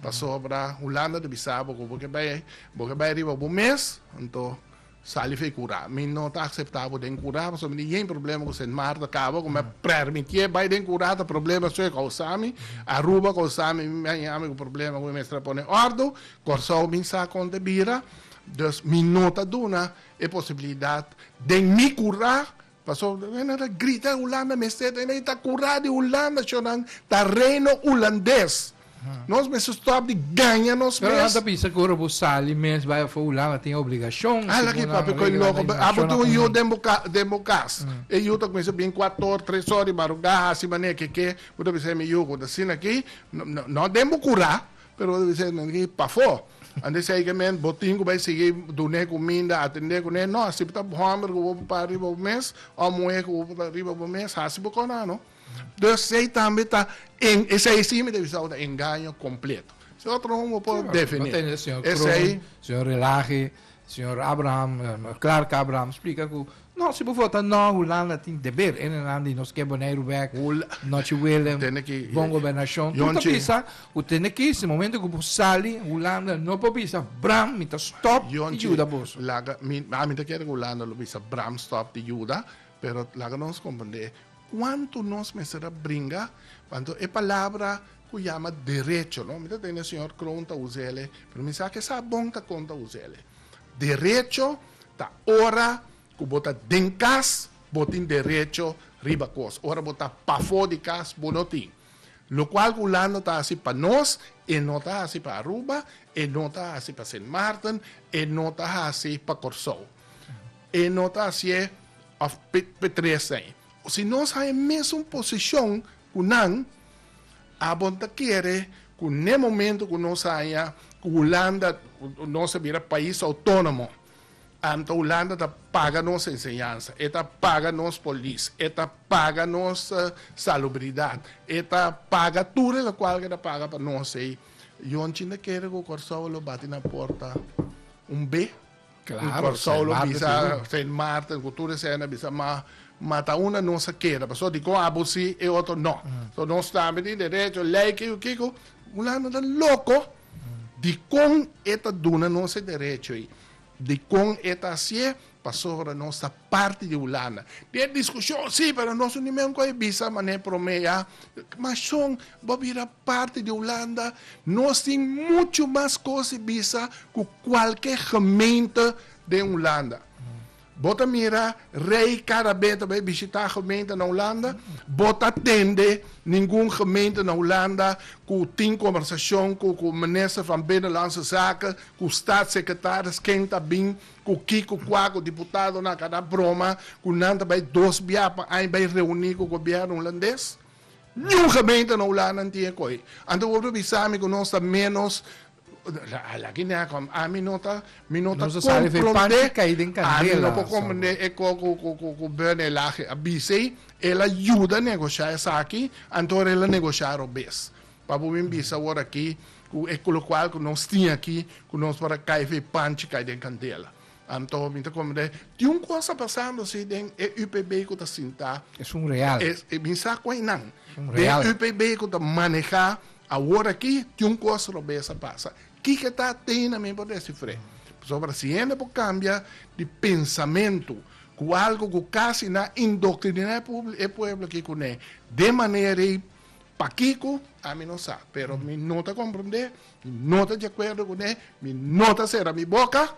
Pasobra Hulanda ta bisa bo ku bo ke bai, bo ke bai riba bo mes, anto Sali fe cura. Mi no ta acepta bo den cura pasobra mi tin yen problema cu Sint Maarten caba cu mi a permitié bay den cura ta problema su e causa mi. Aruba causa mi mi a yami cu problema cu mi mester a pone ordo. Corsou mi sa con ta bira. Dus mi no ta duna e posibilidad den mi cura Paso nan a ta grita Hulanda mester ta i ta cura di Hulanda sho nan ta reino Hulandes nos mester stop di gaña nos mes. Pero nan ta bisa cu ora bo sali mes bai afor Hulanda tin e obligacion si bo nan a regla na imigracion. Abo tin un yu den bo cas e yu ta cuminsa bin cuatro or tres or di madrugada haci manera keke bo ta bisa mi yu cu ta asina aki no den bo cura Pero bo ta bisa nan di, Pafó! An di segemente bo tin ku bai sigui dun'é kuminda, atendé kuné. No, si bo ta hòmber ku bo por para riba bo mes, òf muhé ku bo por para riba bo mes, hasi bo kos nan, no? Entonces, esei tambe ta, esei sí mi ta bisa bo ta engaño kompleto. Si otro hombru bo por definí esei. Señor Kroon, señor Relaje, Señor Abraham, Clark Abraham splica cu, no, si bo vota no, Hulanda tin deber enenan di nos ke Boneiru bek, nochi Willem, bon gobernacion. Tur ta bisa, u tene ki, si momento cu bo sali, Hulanda no por bisa, bram, mi ta stop di yuda boso. Laga, mi, a mi ta kere cu Hulanda lo bisa, bram, stop di yuda, pero laga nos comprende cuanto nos mester a bringa, anto e palabra cu yama derecho no mi ta tende señor Kroon ta usele pero mi sa ke sa bon ta con ta usele derecho ta ora cu bo ta den cas bo tin derecho riba cos ora bo ta pafo di cas bo no tin locual cu Hulanda ta haci pa nos e no ta haci pa Aruba e no ta haci pa Sint Maarten e no ta haci pa Corsou e no ta hacie of pe tres na ayi si nos haña mesun posicion Ku nan, a bon ta kere ku n'e momento ku nos haña ku Hulanda nos a bira pais outónomo, anto Hulanda ta paga nos enseñansa, e ta paga nos polis, e ta paga nos salubridat, e ta paga tur e lokual ku e ta paga pa nos ei. Yon chin ta kere ku Kòrsou a lo bati na porta un be. Claro, Kòrsou lo bisa Sint Maarten ku tur esei na bisa ma mata un na nos a keda paso dikon abo si e otro no. So nos tambe tin derecho lei kico kico. Hulanda ta loco dikon e ta duna nos e derecho ei dikon e ta hasié pasobra nos ta parti di Hulanda. Tin e diskushon si pero nos no tin men ku a bisa manera promé ya. Mashon bo bira parti di Hulanda, nos tin muchu mas cos di bisa cu cualke gemeente den Hulanda. Bo ta mira rey cada be ta bay bishita gemeente na Hulanda, bo ta tende ningun gemeente na Hulanda cu tin conversacion cu cu Minister van Binnenlandse Zaken, cu Staatssecretaris, ken ta bin, cu ki, cu cua, cu diputadonan a cana broma cu nan ta bay dos bia pa aña bay reuni cu gobierno Hulandes. Niun gemeente na Hulanda no tin e koe. Anto bo por bisa mi ku nos ta ménos Ala ki nèk hòm. Ami no ta komprondé. Ami no por komprondé e kò ku Bern e lahe. A bis'ei e la yuda negoshá esaki, anto ora el a negoshá robes. Papu mi bisa wòrdu aki ku e kolokual ku nos tin aki ku nos por a kai fei panchi kai den kandela. Anto mi ta comende tin un cosa pasando si den e UPB cu ta sinta. Es un real. Mi sa cu eynan. Es un real. Den UPB cu ta maneha awor aki tin un cosa robes a pasa. Kiko ta teynan mi por descifre. Pasobra si hende por cambia di pensamento cu algo cu casi nan a indoctrina e pueblo aki cu ne den manera ey, pakico? Ami no sa. Pero mi no ta comprende. Mi no ta di akuerdo ku ne, mi no ta sera mi boka.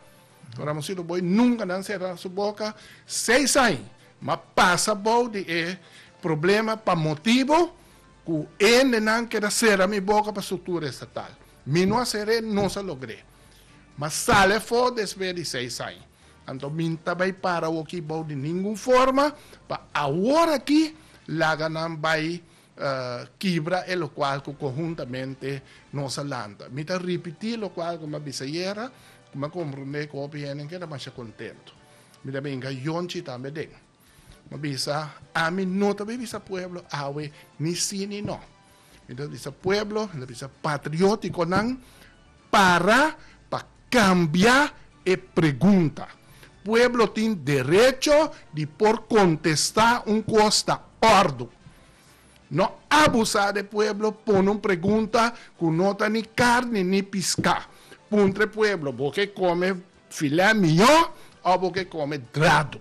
Ora mi sido bo, e nunka nan sera su boka. Seis añ m'a pasa bou di e problema pa motibu ku endenan keda sera mi boka pa struktura estatal. Mi no a ser'é, nos a logr'é. M'a sal afó despues di seis añ. Anto mi ta bai para oki bou di ningun forma pa awor aki laga nan bai kibra e lokual ku konhuntamente nos a lanta. Mi ta ripití lokual ku mi a bisa ayera, ku mi a komprondé ku hopi hende keda masha kontentu. Mi ta binka yonchi tambe den. Mi a bisa, Ami no ta bin bisa pueblo awe ni sí ni no. Mi ta bisa pueblo, mi ta bisa patriótikonan Para pa cambia e pregunta. Pueblo tin derecho di por contesta un cos ta ordu. No abusa de pueblo pone un pregunta cu no ta ni carni ni pisca. Puntra e pueblo, bo ke come filé miyo o bo ke come drado?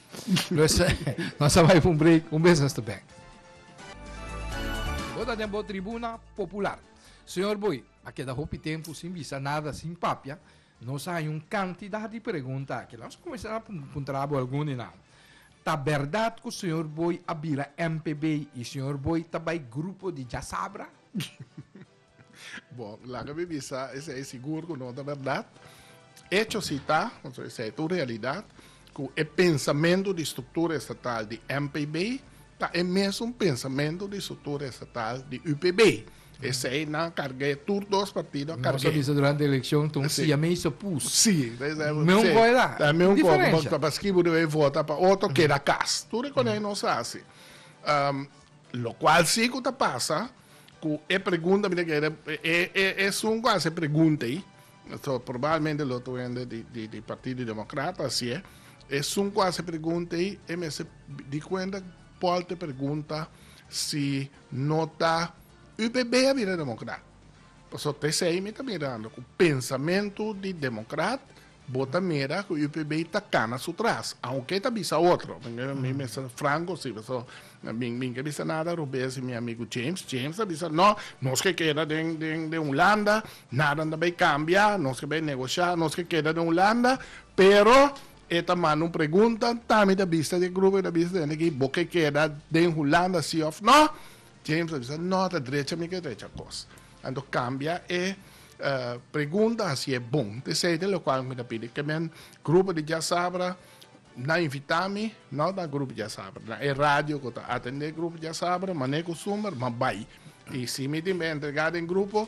Nos a bai fu un break, un bes nos ta bek. Bo ta den bo tribuna popular. Señor Boy, a keda hopi tempu sin bisa nada, sin papia. Nos a haña un kantidat di pregunta aki. Nos a kuminsá a puntra bo algun di nan. Ta bèrdat ku señor Boy a bira MPB i señor Boy ta bai grupo di djasabra? Bon, laga mi bisa, esei sigur ku no ta bèrdat. Echo si ta, pasobra esei ta un realidat, ku e pensamentu di struktura estatal di MPB ta e mesun pensamentu di struktura estatal di UPB. Esei nan a karg'é, tur dos partido a karg'é. Nos a bisa durante elekshon ta un siamese opus. Sí, ta esei bo. Meun kòde la. Ta meun kòde. Bo ta paskí bo debe vota pa otro, keda kas. Tur e kònenan nos a hasi. Lokual sí ku ta pasa. Cu e pregunta mi ta kere, e e esun cu a haci e pregunta ey, so probablmente lo ta wende di di di Partido Democrata, asi e esun cu a haci e pregunta ey e mester di cuenta Paul ta pregunta si no ta UPB a bira Democrat, pasobra p'esey mi ta mirando cu pensamentu di Democrat Bo ta mira cu UPB ta cana su tras, aunke e ta bisa otro. Mi mester franco si, pasobra mi ke bisa nada robes y mi amigo James, James ta bisa no, nos ke keda den, den, den Hulanda, nadan ta bay cambia, nos ke bay negocia, nos ke keda den Hulanda, pero e ta manda un pregunta, ta mi ta bisa di e grupo, mi ta bisa di e hende aki, bo ke keda den Hulanda si of no? James a bisa, No, ta drecha mi ke drecha kos. Anto kambia e pregunta hasi e bon. T seiden lokual mi ta pidi ke men grupo di diasabra na invita mi, no na grupo diasabra, na e radio ku ta atende grupo diasabra, mane kustumber, ma bai. I si mi tin entregá den grupo,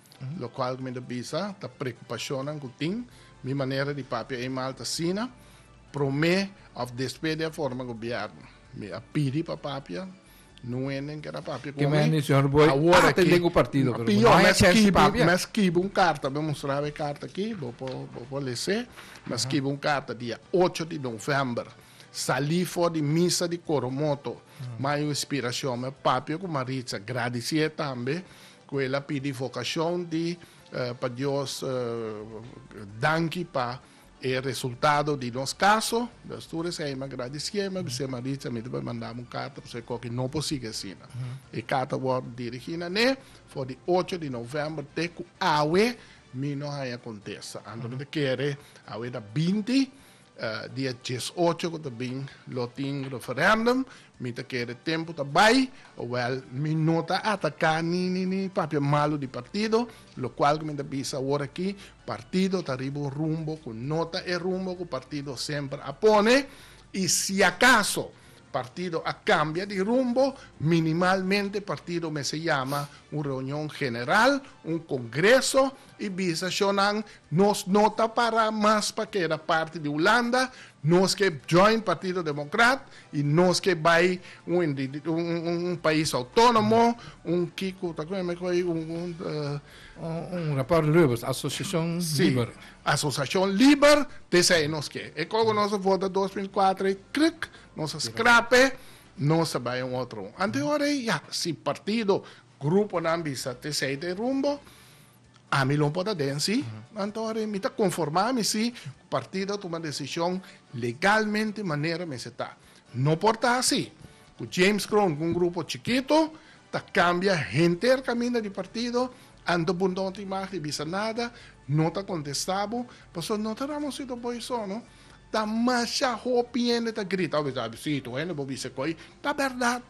Locual cu mi ta bisa ta preocupacionnan cu tin. Mi manera di papia ei mal ta asina, prome of despues di a forma gobierno. Mi a pidi pa papia, no hende keda papia cu mi. Awor aki, a pior, mi a skibi, mi a skibi un carta, mi a mustrabo e carta aki, bo por, bo por lese, mi a skibi un carta dia ocho di november, sali for di misa di Coromoto, mi a hay un inspiracion, mi a papia cu Maritza, gradici'e tambe, Cu el a pidi vocacion di pa Dios danki pa e resultado di nos caso. Stuur esey mi a gradicié mi a bisé Maritza mi ta por mandam un carta pasobra e coki no por sigui asina. E carta a worde dirigi na ne for di ocho di november te cu awe mi no haya contesta. Anto mi ta kere awe ta binti Dia dies ocho ku ta bin lo tin referendum, mi ta kere tempu ta bai, owel mi no ta ataka ni ni ni papia malu di partido, lokual ku mi ta bisa awor aki, partido ta riba un rumbo ku no ta e rumbo ku partido semper a pone, i si akaso partido a kambia di rumbo, minimalmente partido mester yama un reunion general, un kongreso, E bisa shownan, Nos no ta para mas pa keda parti di Hulanda, nos ke join Partido Democrat y nos ke bay un pais autonomo, un kiko ta kome me koe un. Un raport liber, asociacion liber. Si, asociacion liber, te esey nos ke. E koko nos a vota dos mil kuater ey, krik, nos a scrap e, nos a bay un otro. Anteor ey, ya, si partido. Gruponan bisa t'esei ta e rumbo, ami lo por ta den si. Anto a mi ta konformá mi si ku partido a tuma desishon legalmente manera mester ta. No por ta asi ku James Kroon ku un grupo chikitu ta kambia henter kaminda di partido, anto bo no ta imag di bisa nada, no ta kontestá bo, pasobra no ta Ramosito Boy so no, ta masha hopi hende ta grita, a besitu hende bo bisa ko'i ta bèrdat.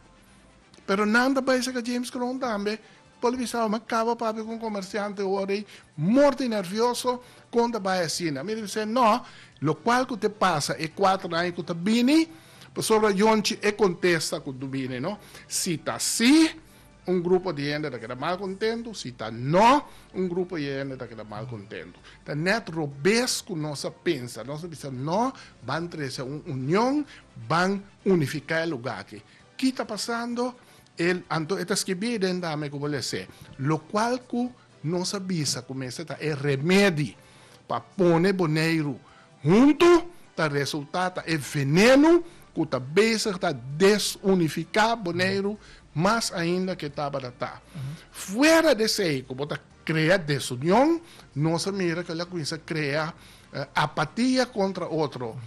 Pero nan ta bai saka James Crown tambe por bisao m'a kaba papia ku un komersiante ora ei mor di nervioso kon ta bai asina. Mi a bis'é, No, lokual ku ta pasa e kuater aña ku ta bini? Pasobra yonchi e kontesta ku ta bini, no? Si ta sí, un grupo di hende ta keda mal kontentu, si ta no, un grupo di hende ta keda mal kontentu. Ta nèt robes ku nos a pensa. Nos a bisa, No, ban trese un union, ban unifiká e lugá akí. Ki ta pasando? El, anto e ta skibí den Dame ku bo les'é, lokual ku nos a bisa ku mester ta e remedi pa pone Boneiru huntu, ta resultá ta e venenu ku ta bezig ta desunifiká Boneiru mas ainda ke tabata ta. Fuera d'esei ku bo ta krea desunion, nos a mira ku el a kuminsá krea apatia kontra otro,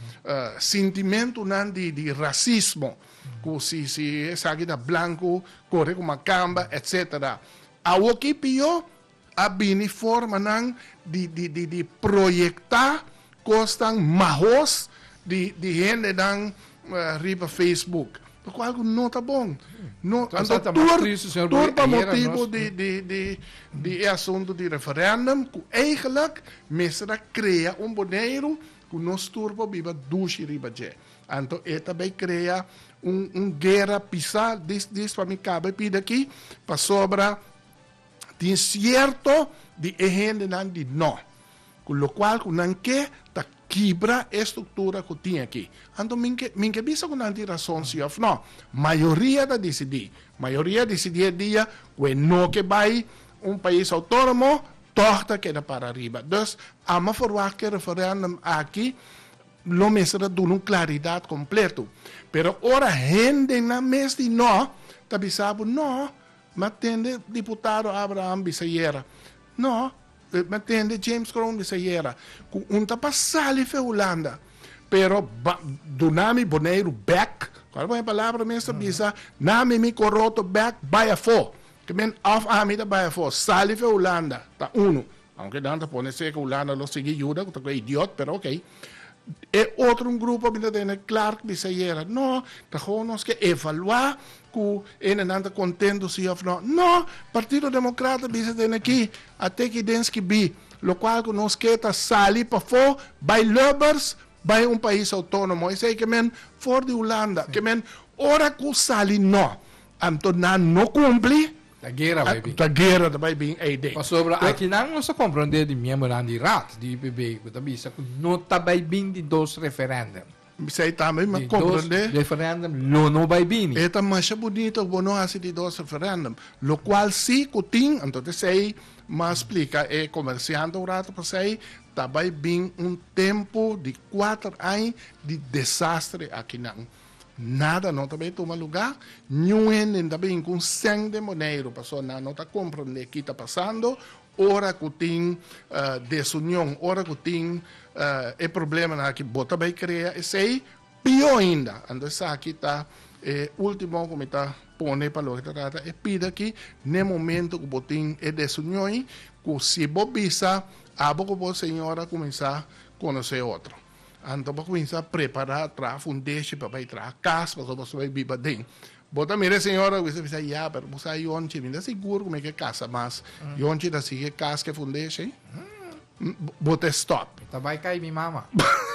sintimentunan di rasismo. Cu si si esaki ta blanco core cu macamba etc. Awo ki pio a bini forma nan di di di di proyecta cosnan mahos di di hende nan riba Facebook lo cual cu no ta bon no anto tur tur pa motibo di di di di e asunto di referendum cu eigenlik mester a crea un Boneiru cu nos tur por biba dushi riba dje. Anto e ta bay crea un un guera pisa dis dis pa mi caba e pida aki pasobra tin cierto di e hendenan di no cu locual cu nan ke ta kibra e structura cu tin aki anto mi ke mi ke bisa cu nan tin razon si of no mayoria ta dicidi mayoria dicidi e dia cu e no ke bay un pais autonomo tog ta keda para riba dus amo verwacht ke referendum aki. Lo mester ta duna un claridad completo. Pero ora hendenan mes di no ta bisa bo, no, m'a tende diputado Abraham bisa ayera, no, m'a tende James Kroon bisa ayera, cu un ta pa sali fe Hulanda, pero ba duna mi Boneiru bek, cual bo e palabra mes ta bisa, na mi mi coroto bek, bay afo, ke men of ami ta bay afo, sali fe Hulanda, ta uno. Aunke nan ta pone seke Hulanda lo sigui yuda cu ta cu e idiot pero ok. E otro un grupo a bin ta tene Clark bisa ayera no ta gou nos ke evalua cu enenan ta contento si of no. No! Partido Democrata bisa den aki a teki den skibi locual cu nos ke ta sali pafo bay Lubbers bay un pais autonomo esey ke men for di Hulanda ke men ora cu sali no anto nan no cumpli. Ta guera bai bin. Ta guera ta bai bin ei den. Pasobra aki nan nos a comprende di miembonan di Raad di UPB cu ta bisa cu no ta bai bin di dos referendum. Bisa ei tambe mi a comprende. Di dos referendum lo no bai bini. E ta masha bunito cu bo no haci di dos referendum. Locual si cu tin, anto ta esei mi a splica e comercianten un rato pasai, ta bai bin un tempo di cuater aña di desastre aki nan. Nada no ta bay tuma lugar, niun hende no ta bini cu un cen den Boneiru, pasobra nan no ta comprende ki ta pasando ora cu tin desunion, ora cu tin e probleman aki bo ta bay crea esey, pio ainda. Anto esaki ta e ultimo cu mi ta pone pa loke ta trata e pida aki, n'e momento cu bo tin e desunion, cu si bo bisa abo cu bo señora cuminsa conoce otro. Anto bo cuminsa prepara traha fundeshi pa bay traha cas pasobra bo ta bay biba aden. Bo ta mira e señora a cuminsa bisa ya pero bo sa e yonchi mi ta sigur cu mi ke casa mas yonchi ta sigui e cas ke fundeshi bo ta stop. Mi ta bay cay mi mama.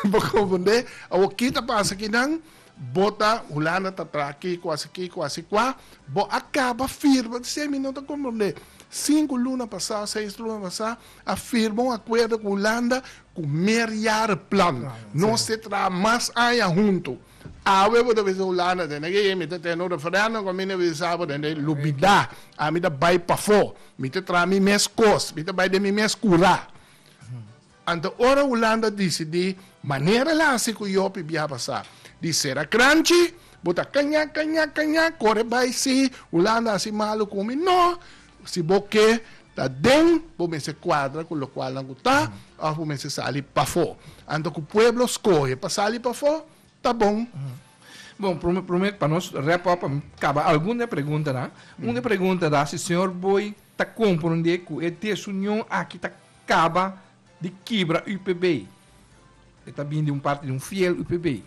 Bo confunde awor ki ta pasa akinan bo ta Hulanda ta traha kico haci kico haci cua bo a caba firma ta siy mi no ta comprende cinco luna pasa seis luna pasa a firma un acuerdo cu Hulanda Ku meerjare plan nos te traha mas aña huntu. Awe bo ta bisa Hulanda te neke yei mi ta tene un referendum ku mi na bisa bo den e lubida. Ami ta bai pafó. Mi ta traha mi mes kos. Mi ta bai den mi mes kura. Anto ora Hulanda disidí manera la hasi ku Jopi biaba sa di sera kranchi bo ta kaña kaña kaña kore bai si Hulanda hasi malu ku mi. No! Si bo ke ta den, bo mester kuadra ku lokualnan ku ta òf bo mester sali pafó. Anto ku pueblo skohe pa sali pafó, ta bon. Bon, promé, promé pa nos wrap up, pa mi kaba algun den e preguntanan. Un den e pregunta ta si señor Booi ta komprondé ku e desunion aki ta kaba Di kibra UPB. E ta bini di un parti di un fiel UPB.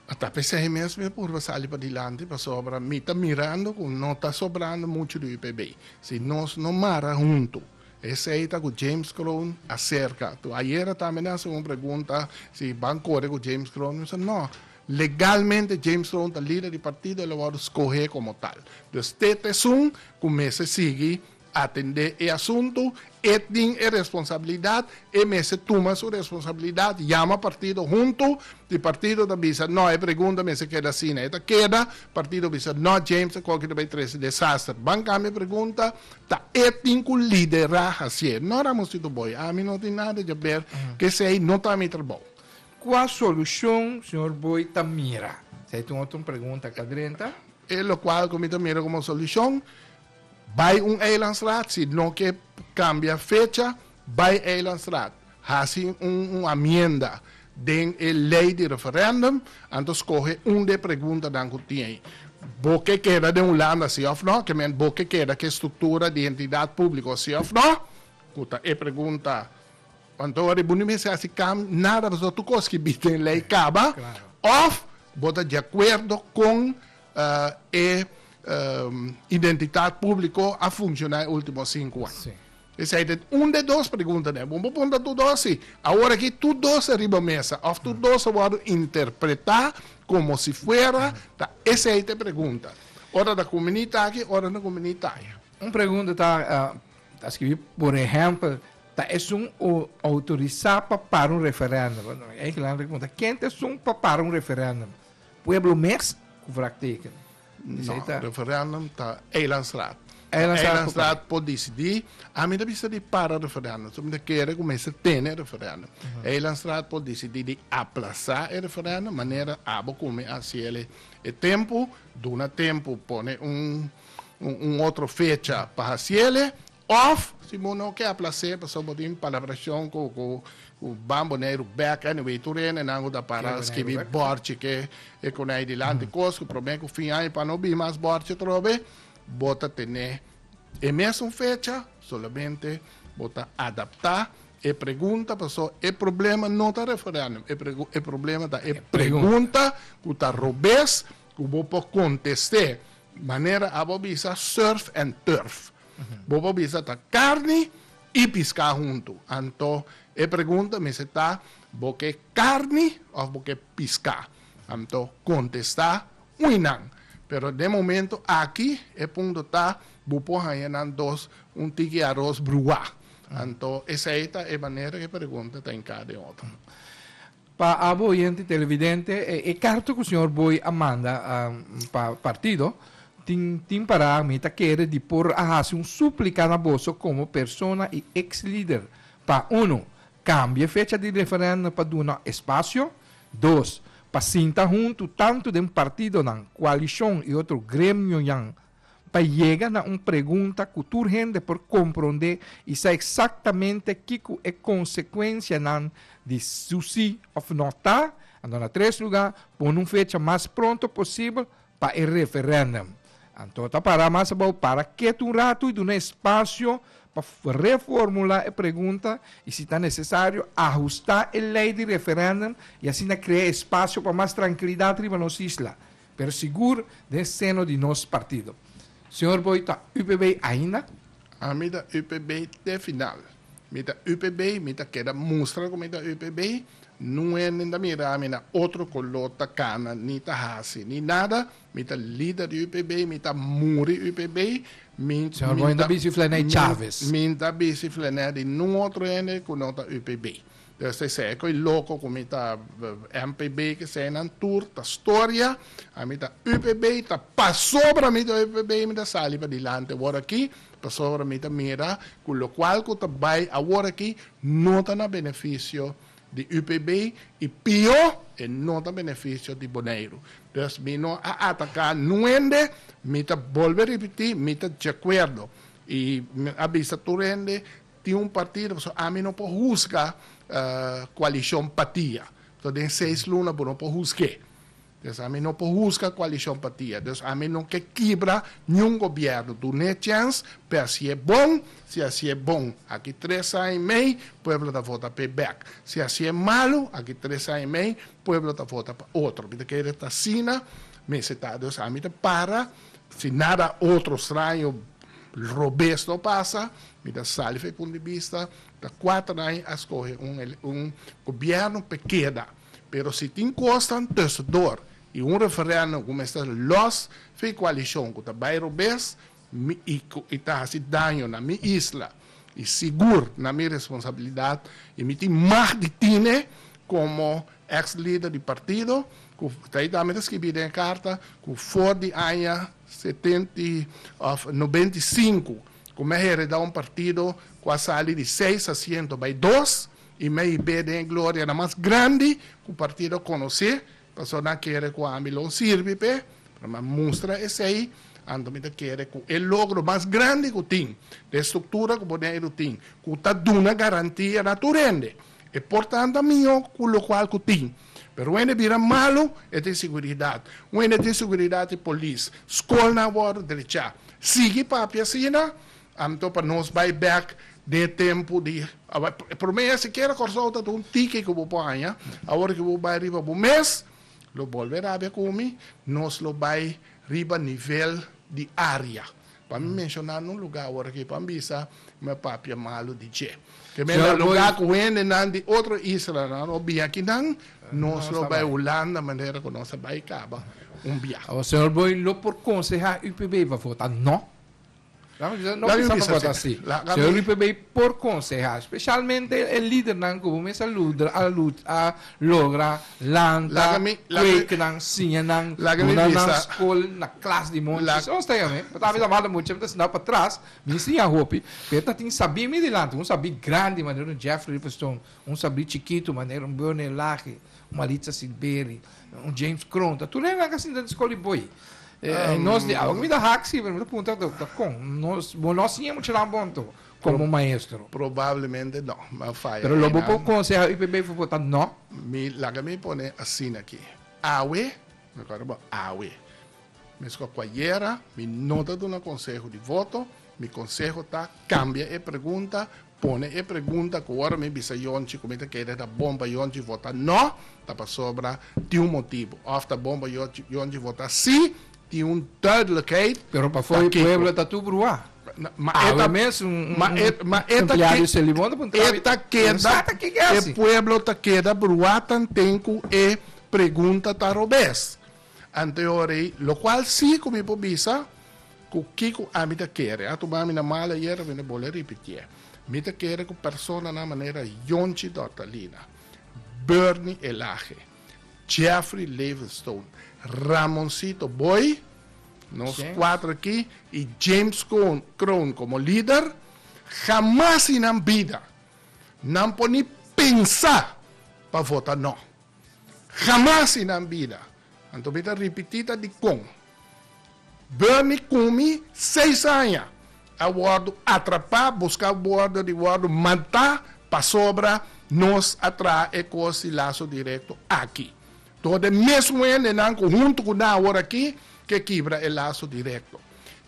Ata pa esei mes mi a purba sali padilanti pasobra mi ta mirando ku no ta sobrando muchu di UPB. Si nos no mara huntu. Esei ta ku James Kroon a serka. Tu ayera tambe nan hasenan un pregunta si ban kore ku James Kroon. Mi bisa no. Legalmente James Kroon ta lider di partido, el a wòrdu skohe komo tal. Dus te tèsun ku mester sigui Atendé e asuntu, e tin e responsabilidat, e mester tuma su responsabilidat, yama partido huntu, di partido ta bisa no e pregunta mester keda asina, e ta keda, partido bisa no James ta koke ta bai trese desaster, ban kambia e pregunta, ta e tin ku lidera hasié, no Ramosito Boy, ami no tin nada dje ber, kesei no ta mi trabou. Kua solushon señor Boy ta mira? Esei ta un otro pregunta akadrenta. E lokual ku mi ta mira komo solushon. Bai un eilandstraat, si no ke kambia fecha, bai eilandstraat, hasi un amienda den e lei di referendum, anto skohe un di e preguntanan ku tin, Bo ke keda den Hulanda, si òf no? Ke ment, Bo ke keda ku e struktura di entidat públiko, si òf no? ku ta e pregunta. Want ora bo no mester hasi kambio nada, pasobra tur kos ku e bini den lei kaba, òf bo ta di akuerdo kon E identitat públiko a funshoná e último sinku an? P'esei ta un den dos pregunta den. Bo punta tur dos si. Awor akí tur dos ta riba mesa òf tur dos ta wòrdu interpretá komo si fuera ta esei ta e pregunta. Ora ta kuminí ta aki, ora ta kuminí ta aya. Un pregunta ta ta skibi por ehèmpel, ta esun o outorisá pa para un referèndum? Ei kila nan a punta. Ken ta esun pa para un referèndum? Pueblo mes ku vrakteken. No, referendum ta Eilandsraad. Eilandsraad por disidi. Ami ta bisa di para referendum. So mi ta kere ku mester tene referendum. Eilandsraad por disidi di aplasa e referendum manera abo ku mi a hasiel e tempu. Duna tempu, pone un otro fecha pa hasiel. Of si bo no ke a plasé pasobra bo tin palabrashon ku ku ban Boneiru bèk, anyway tur hendenan ku ta para skibi bòrchi ke e konei dilanti kos ku promé ku fin aña pa no bin mas bòrchi atrobe, bo ta ten'é e mesun fecha, solamente bo ta adaptá e pregunta pasó e problema no ta referèndum, e problema ta e pregunta ku ta robes ku bo por kontest'é manera abo bisa surf and turf. Bo por bisa ta carni y pisca hunto. Anto e pregunta mester ta bo ke carni of bo ke pisca. Anto contesta ui nan. Pero den momento aki e punto ta bo por haya nan dos un tiki aros brua. Anto esey ta e manera ke pregunta ta hinca den otro. Pa abo oyente y televidente, e carta cu Señor Booi a manda pa partido tin tin para mi ta kere di por a haci un suplica na boso como persona y ex-lider pa, uno, cambia e fecha di referendo pa duna espacio, dos, pa sinta hunto tanto den partidonan, coalición y otro gremionan pa yega na un pregunta cu tur hende por comprende y sa exactamente kico e consecuencianan di su si of no ta, anto na tres lugar, pone un fecha mas pronto posibel pa e referendum. Anto ta para mas abao, para ketu un ratu y duna espacio pa reformula e pregunta y si ta necesario ahusta e ley di referendum y asina crea espacio pa mas trankilidad riba nos isla. Pero sigur den seno di nos partido. Señor bo y ta UPB ainda? A mi ta UPB te final. Mi ta UPB y mi ta keda mustra cu mi ta UPB. Nuenden ta mira mi na otro color ta cana ni ta haci ni nada. Mi ta lider di UPB y mi ta muri UPB. Mi Señor bo y no ta bici flené Chavez. Mi ta bici flené di nun otro hende cu no ta UPB. Desde esei cu e loco cu mi ta MPB cu eseinan tur ta storia, ami ta UPB y ta pasobra mi ta UPB mi ta sali padilante awor aki pasobra mi ta mira cu locual cu ta bay awor aki no ta na beneficio di UPB y pio e no ta beneficio di Boneiru. Pues mi no a ataca nuhende, mi ta bolbe ripiti mi ta djacuerdo y mi a bisa tur hende Tin un partido, pasobra ami no por husga coalicion patia. Pasobra den seis luna bo no por husg'é. Pues ami no por husga coalicion patia. Dus ami no ke kibra niun gobierno. Dun'é chèns p'e hasié bon. Si hasié bon, aki tres aña i mei, pueblo ta vota p'e bèk. Si hasié malu, aki tres aña i mei, pueblo ta vota pa otro. Mi ta kere ta asina mester ta. Dus ami ta para, si nada otro straño, robes no pasa, Mi ta sali fu e punto di bista, ta cuater aña a scoge un gobierno pa keda, pero si tin cosnan tusendor y un referendum cu mester los fu e coalicion cu ta bay robes y ta haci daño na mi isla y sigur na mi responsabilidad y mi tin mag di tine como ex lider di partido cu ta ayi ta mi ta scribi den e carta cu for di aña setenta of noventa y cinco Ku me hereda un partido ku a sali di seis asiento bai dos i me i be den e glorianan mas grandi ku partido a konosé. Pastor nan kere ku ami lo sirbi p'e, pero mi a mustra esei. Anto mi ta kere ku e logro mas grandi ku tin, den e struktura ku bo den ei lo tin, ku ta duna garantia na tur hende, e por tantu a mi ku lokual ku tin. Pero wende bira malu e tin seguridat. Wende tin seguridat i polis. Skolnan a wòrdu drechá. Sigui papia asina, anto pa nos bai bèk den e tempu di promé e sikiera Kòrsou ta tin un tiki ku bo por haña. Awor ku bo bai riba bo mes lo bolbe rabia ku mi, nos lo bai riba nivel di área. Pa mi menshona un lugá aworakí pa mi bisa kuma e papia malu di dje. Ke mester lugá ku hendenan di otro islanan o biakinan nos lo bai Hulanda manera ku nos a bai kaba un bia. Awa señor Boy lo por konsehá UPB pa vota nò? Lami bisa, no bisa pa vota sí. Señor UPB por konsehá speshalmente e lidernan ku bo mes a logra. lanta, kuekenan, siña nan, duna nan skol na klas di monchi. Segun Stijn ami, mi ta habla mas di monchi, mi ta sinta patras, mi siña hopi, pero e ta tin sabí mi dilanti, un sabí grandi manera un Jeffrey Riverstone, un sabí chikitu manera un Burney Lache, un Maritza Silveri, un James Kroon, ta tur hende nan ku a sinta den skol di Boy. E nos di awa ku mi ta haksi, pero mi ta puntra dokta, kon? Nos, bo no siña muchanan bon to? komo maestro? Probablemente no, m'a faya einan. Pero lo bo por konsehá UPB for bo ta no? Mi, laga mi pone asina aki. Awe, rekorda bo, awe, meskos ku ayera, mi no ta duna konseho di voto, mi konseho ta kambia e pregunta, pone e pregunta ku ora mi bisa yonchi ku mi ta kere ta bon pa yonchi vota no, ta pasobra tin un motibu, òf ta bon pa yonchi vota sí, Tin un duidelijkheid. Pero pafoor e pueblo ta tur bruha. Awe mes un empleado di Celimon ta puntra awe ta pensata kiko e hasi. E pueblo ta keda bruha tanten ku e pregunta ta robes anteor ei, lokual si ku mi por bisa ku kiko ami ta kere. A tuma mi na mal ayer, a bini bole ripitié. Mi ta kere ku personanan manera Yonchi Dortalina, Bernie Elaje. Jeffrey Levenstone, Ramoncito Boy, nos James. kuater aki, i James Cohn, Kroon komo lider, hamas i nan bida nan por ni pensa pa vota no. Hamas i nan bida. Anto mi ta ripití ta dikon. Bernie cu mi seis aña a wordo atrapa busca wordo di wordo mata pasobra nos a traha e cos di laso directo aki. Door den mesmo hendenan cu hunto cu nan awor aki ke kibra e laso directo.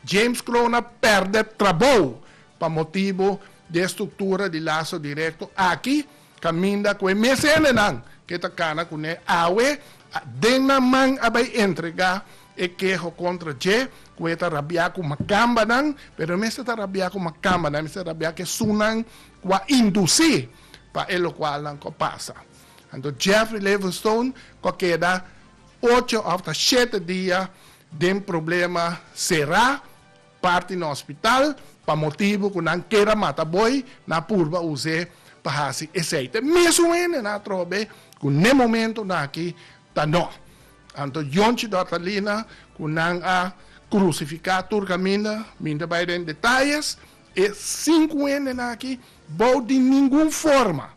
James Crona perde trabou pa motibo di e structura di laso directo aki Caminda cu e mes hendenan ke ta cana cu ne awe den nan man a bay entrega e keho contra dje cu e ta rabia cu macambanan, pero e mester ta rabia cu macambanan, e mester ta rabia cu esunnan cu a induci pa e locual nan cu a pasa. Anto Jeffrey Levenstone cu a keda ocho of ta shete dia den problema cera. parti na hospital pa motibu cu nan kier a mata boy nan a purba use pa haci aceite mesun hende nan a trobe cu n'e momento naki ta no anto yonchi dortalina cu nan a crucifica tur caminda mi n'ta bay den detalles e cinco hende naki bao di ningun forma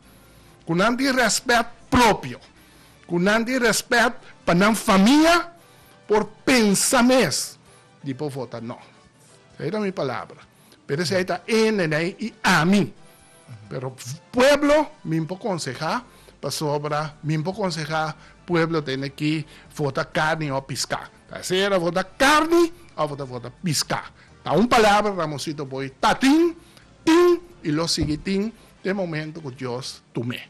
cu nan tin respet propio cu nan tin respet pa nan famia por pensa mes Di por vota no. Esei ta mi palabra. Pero esei ta e nenei y ami. Pero pueblo mi por conseha pasobra mi por conseha pueblo tene ki vota carni o pisca. Ta esei ta vota carni of ta vota pisca. Ta un palabra Ramosito Boy ta tin, tin y lo sigui tin te momento cu Dios tu me.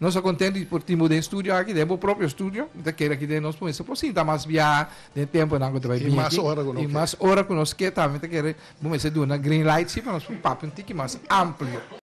Nos ta content di por timbo den studio aki, den bo propio studio. Mi ta kere aki den nos mester por sinta mas biaha den temponan cu ta bay bini aki. Y mas ora cu no ke. Y mas ora cu nos ke tambe. Mi ta kere bo mester duna green light si pa nos por papia un tiki mas amplio.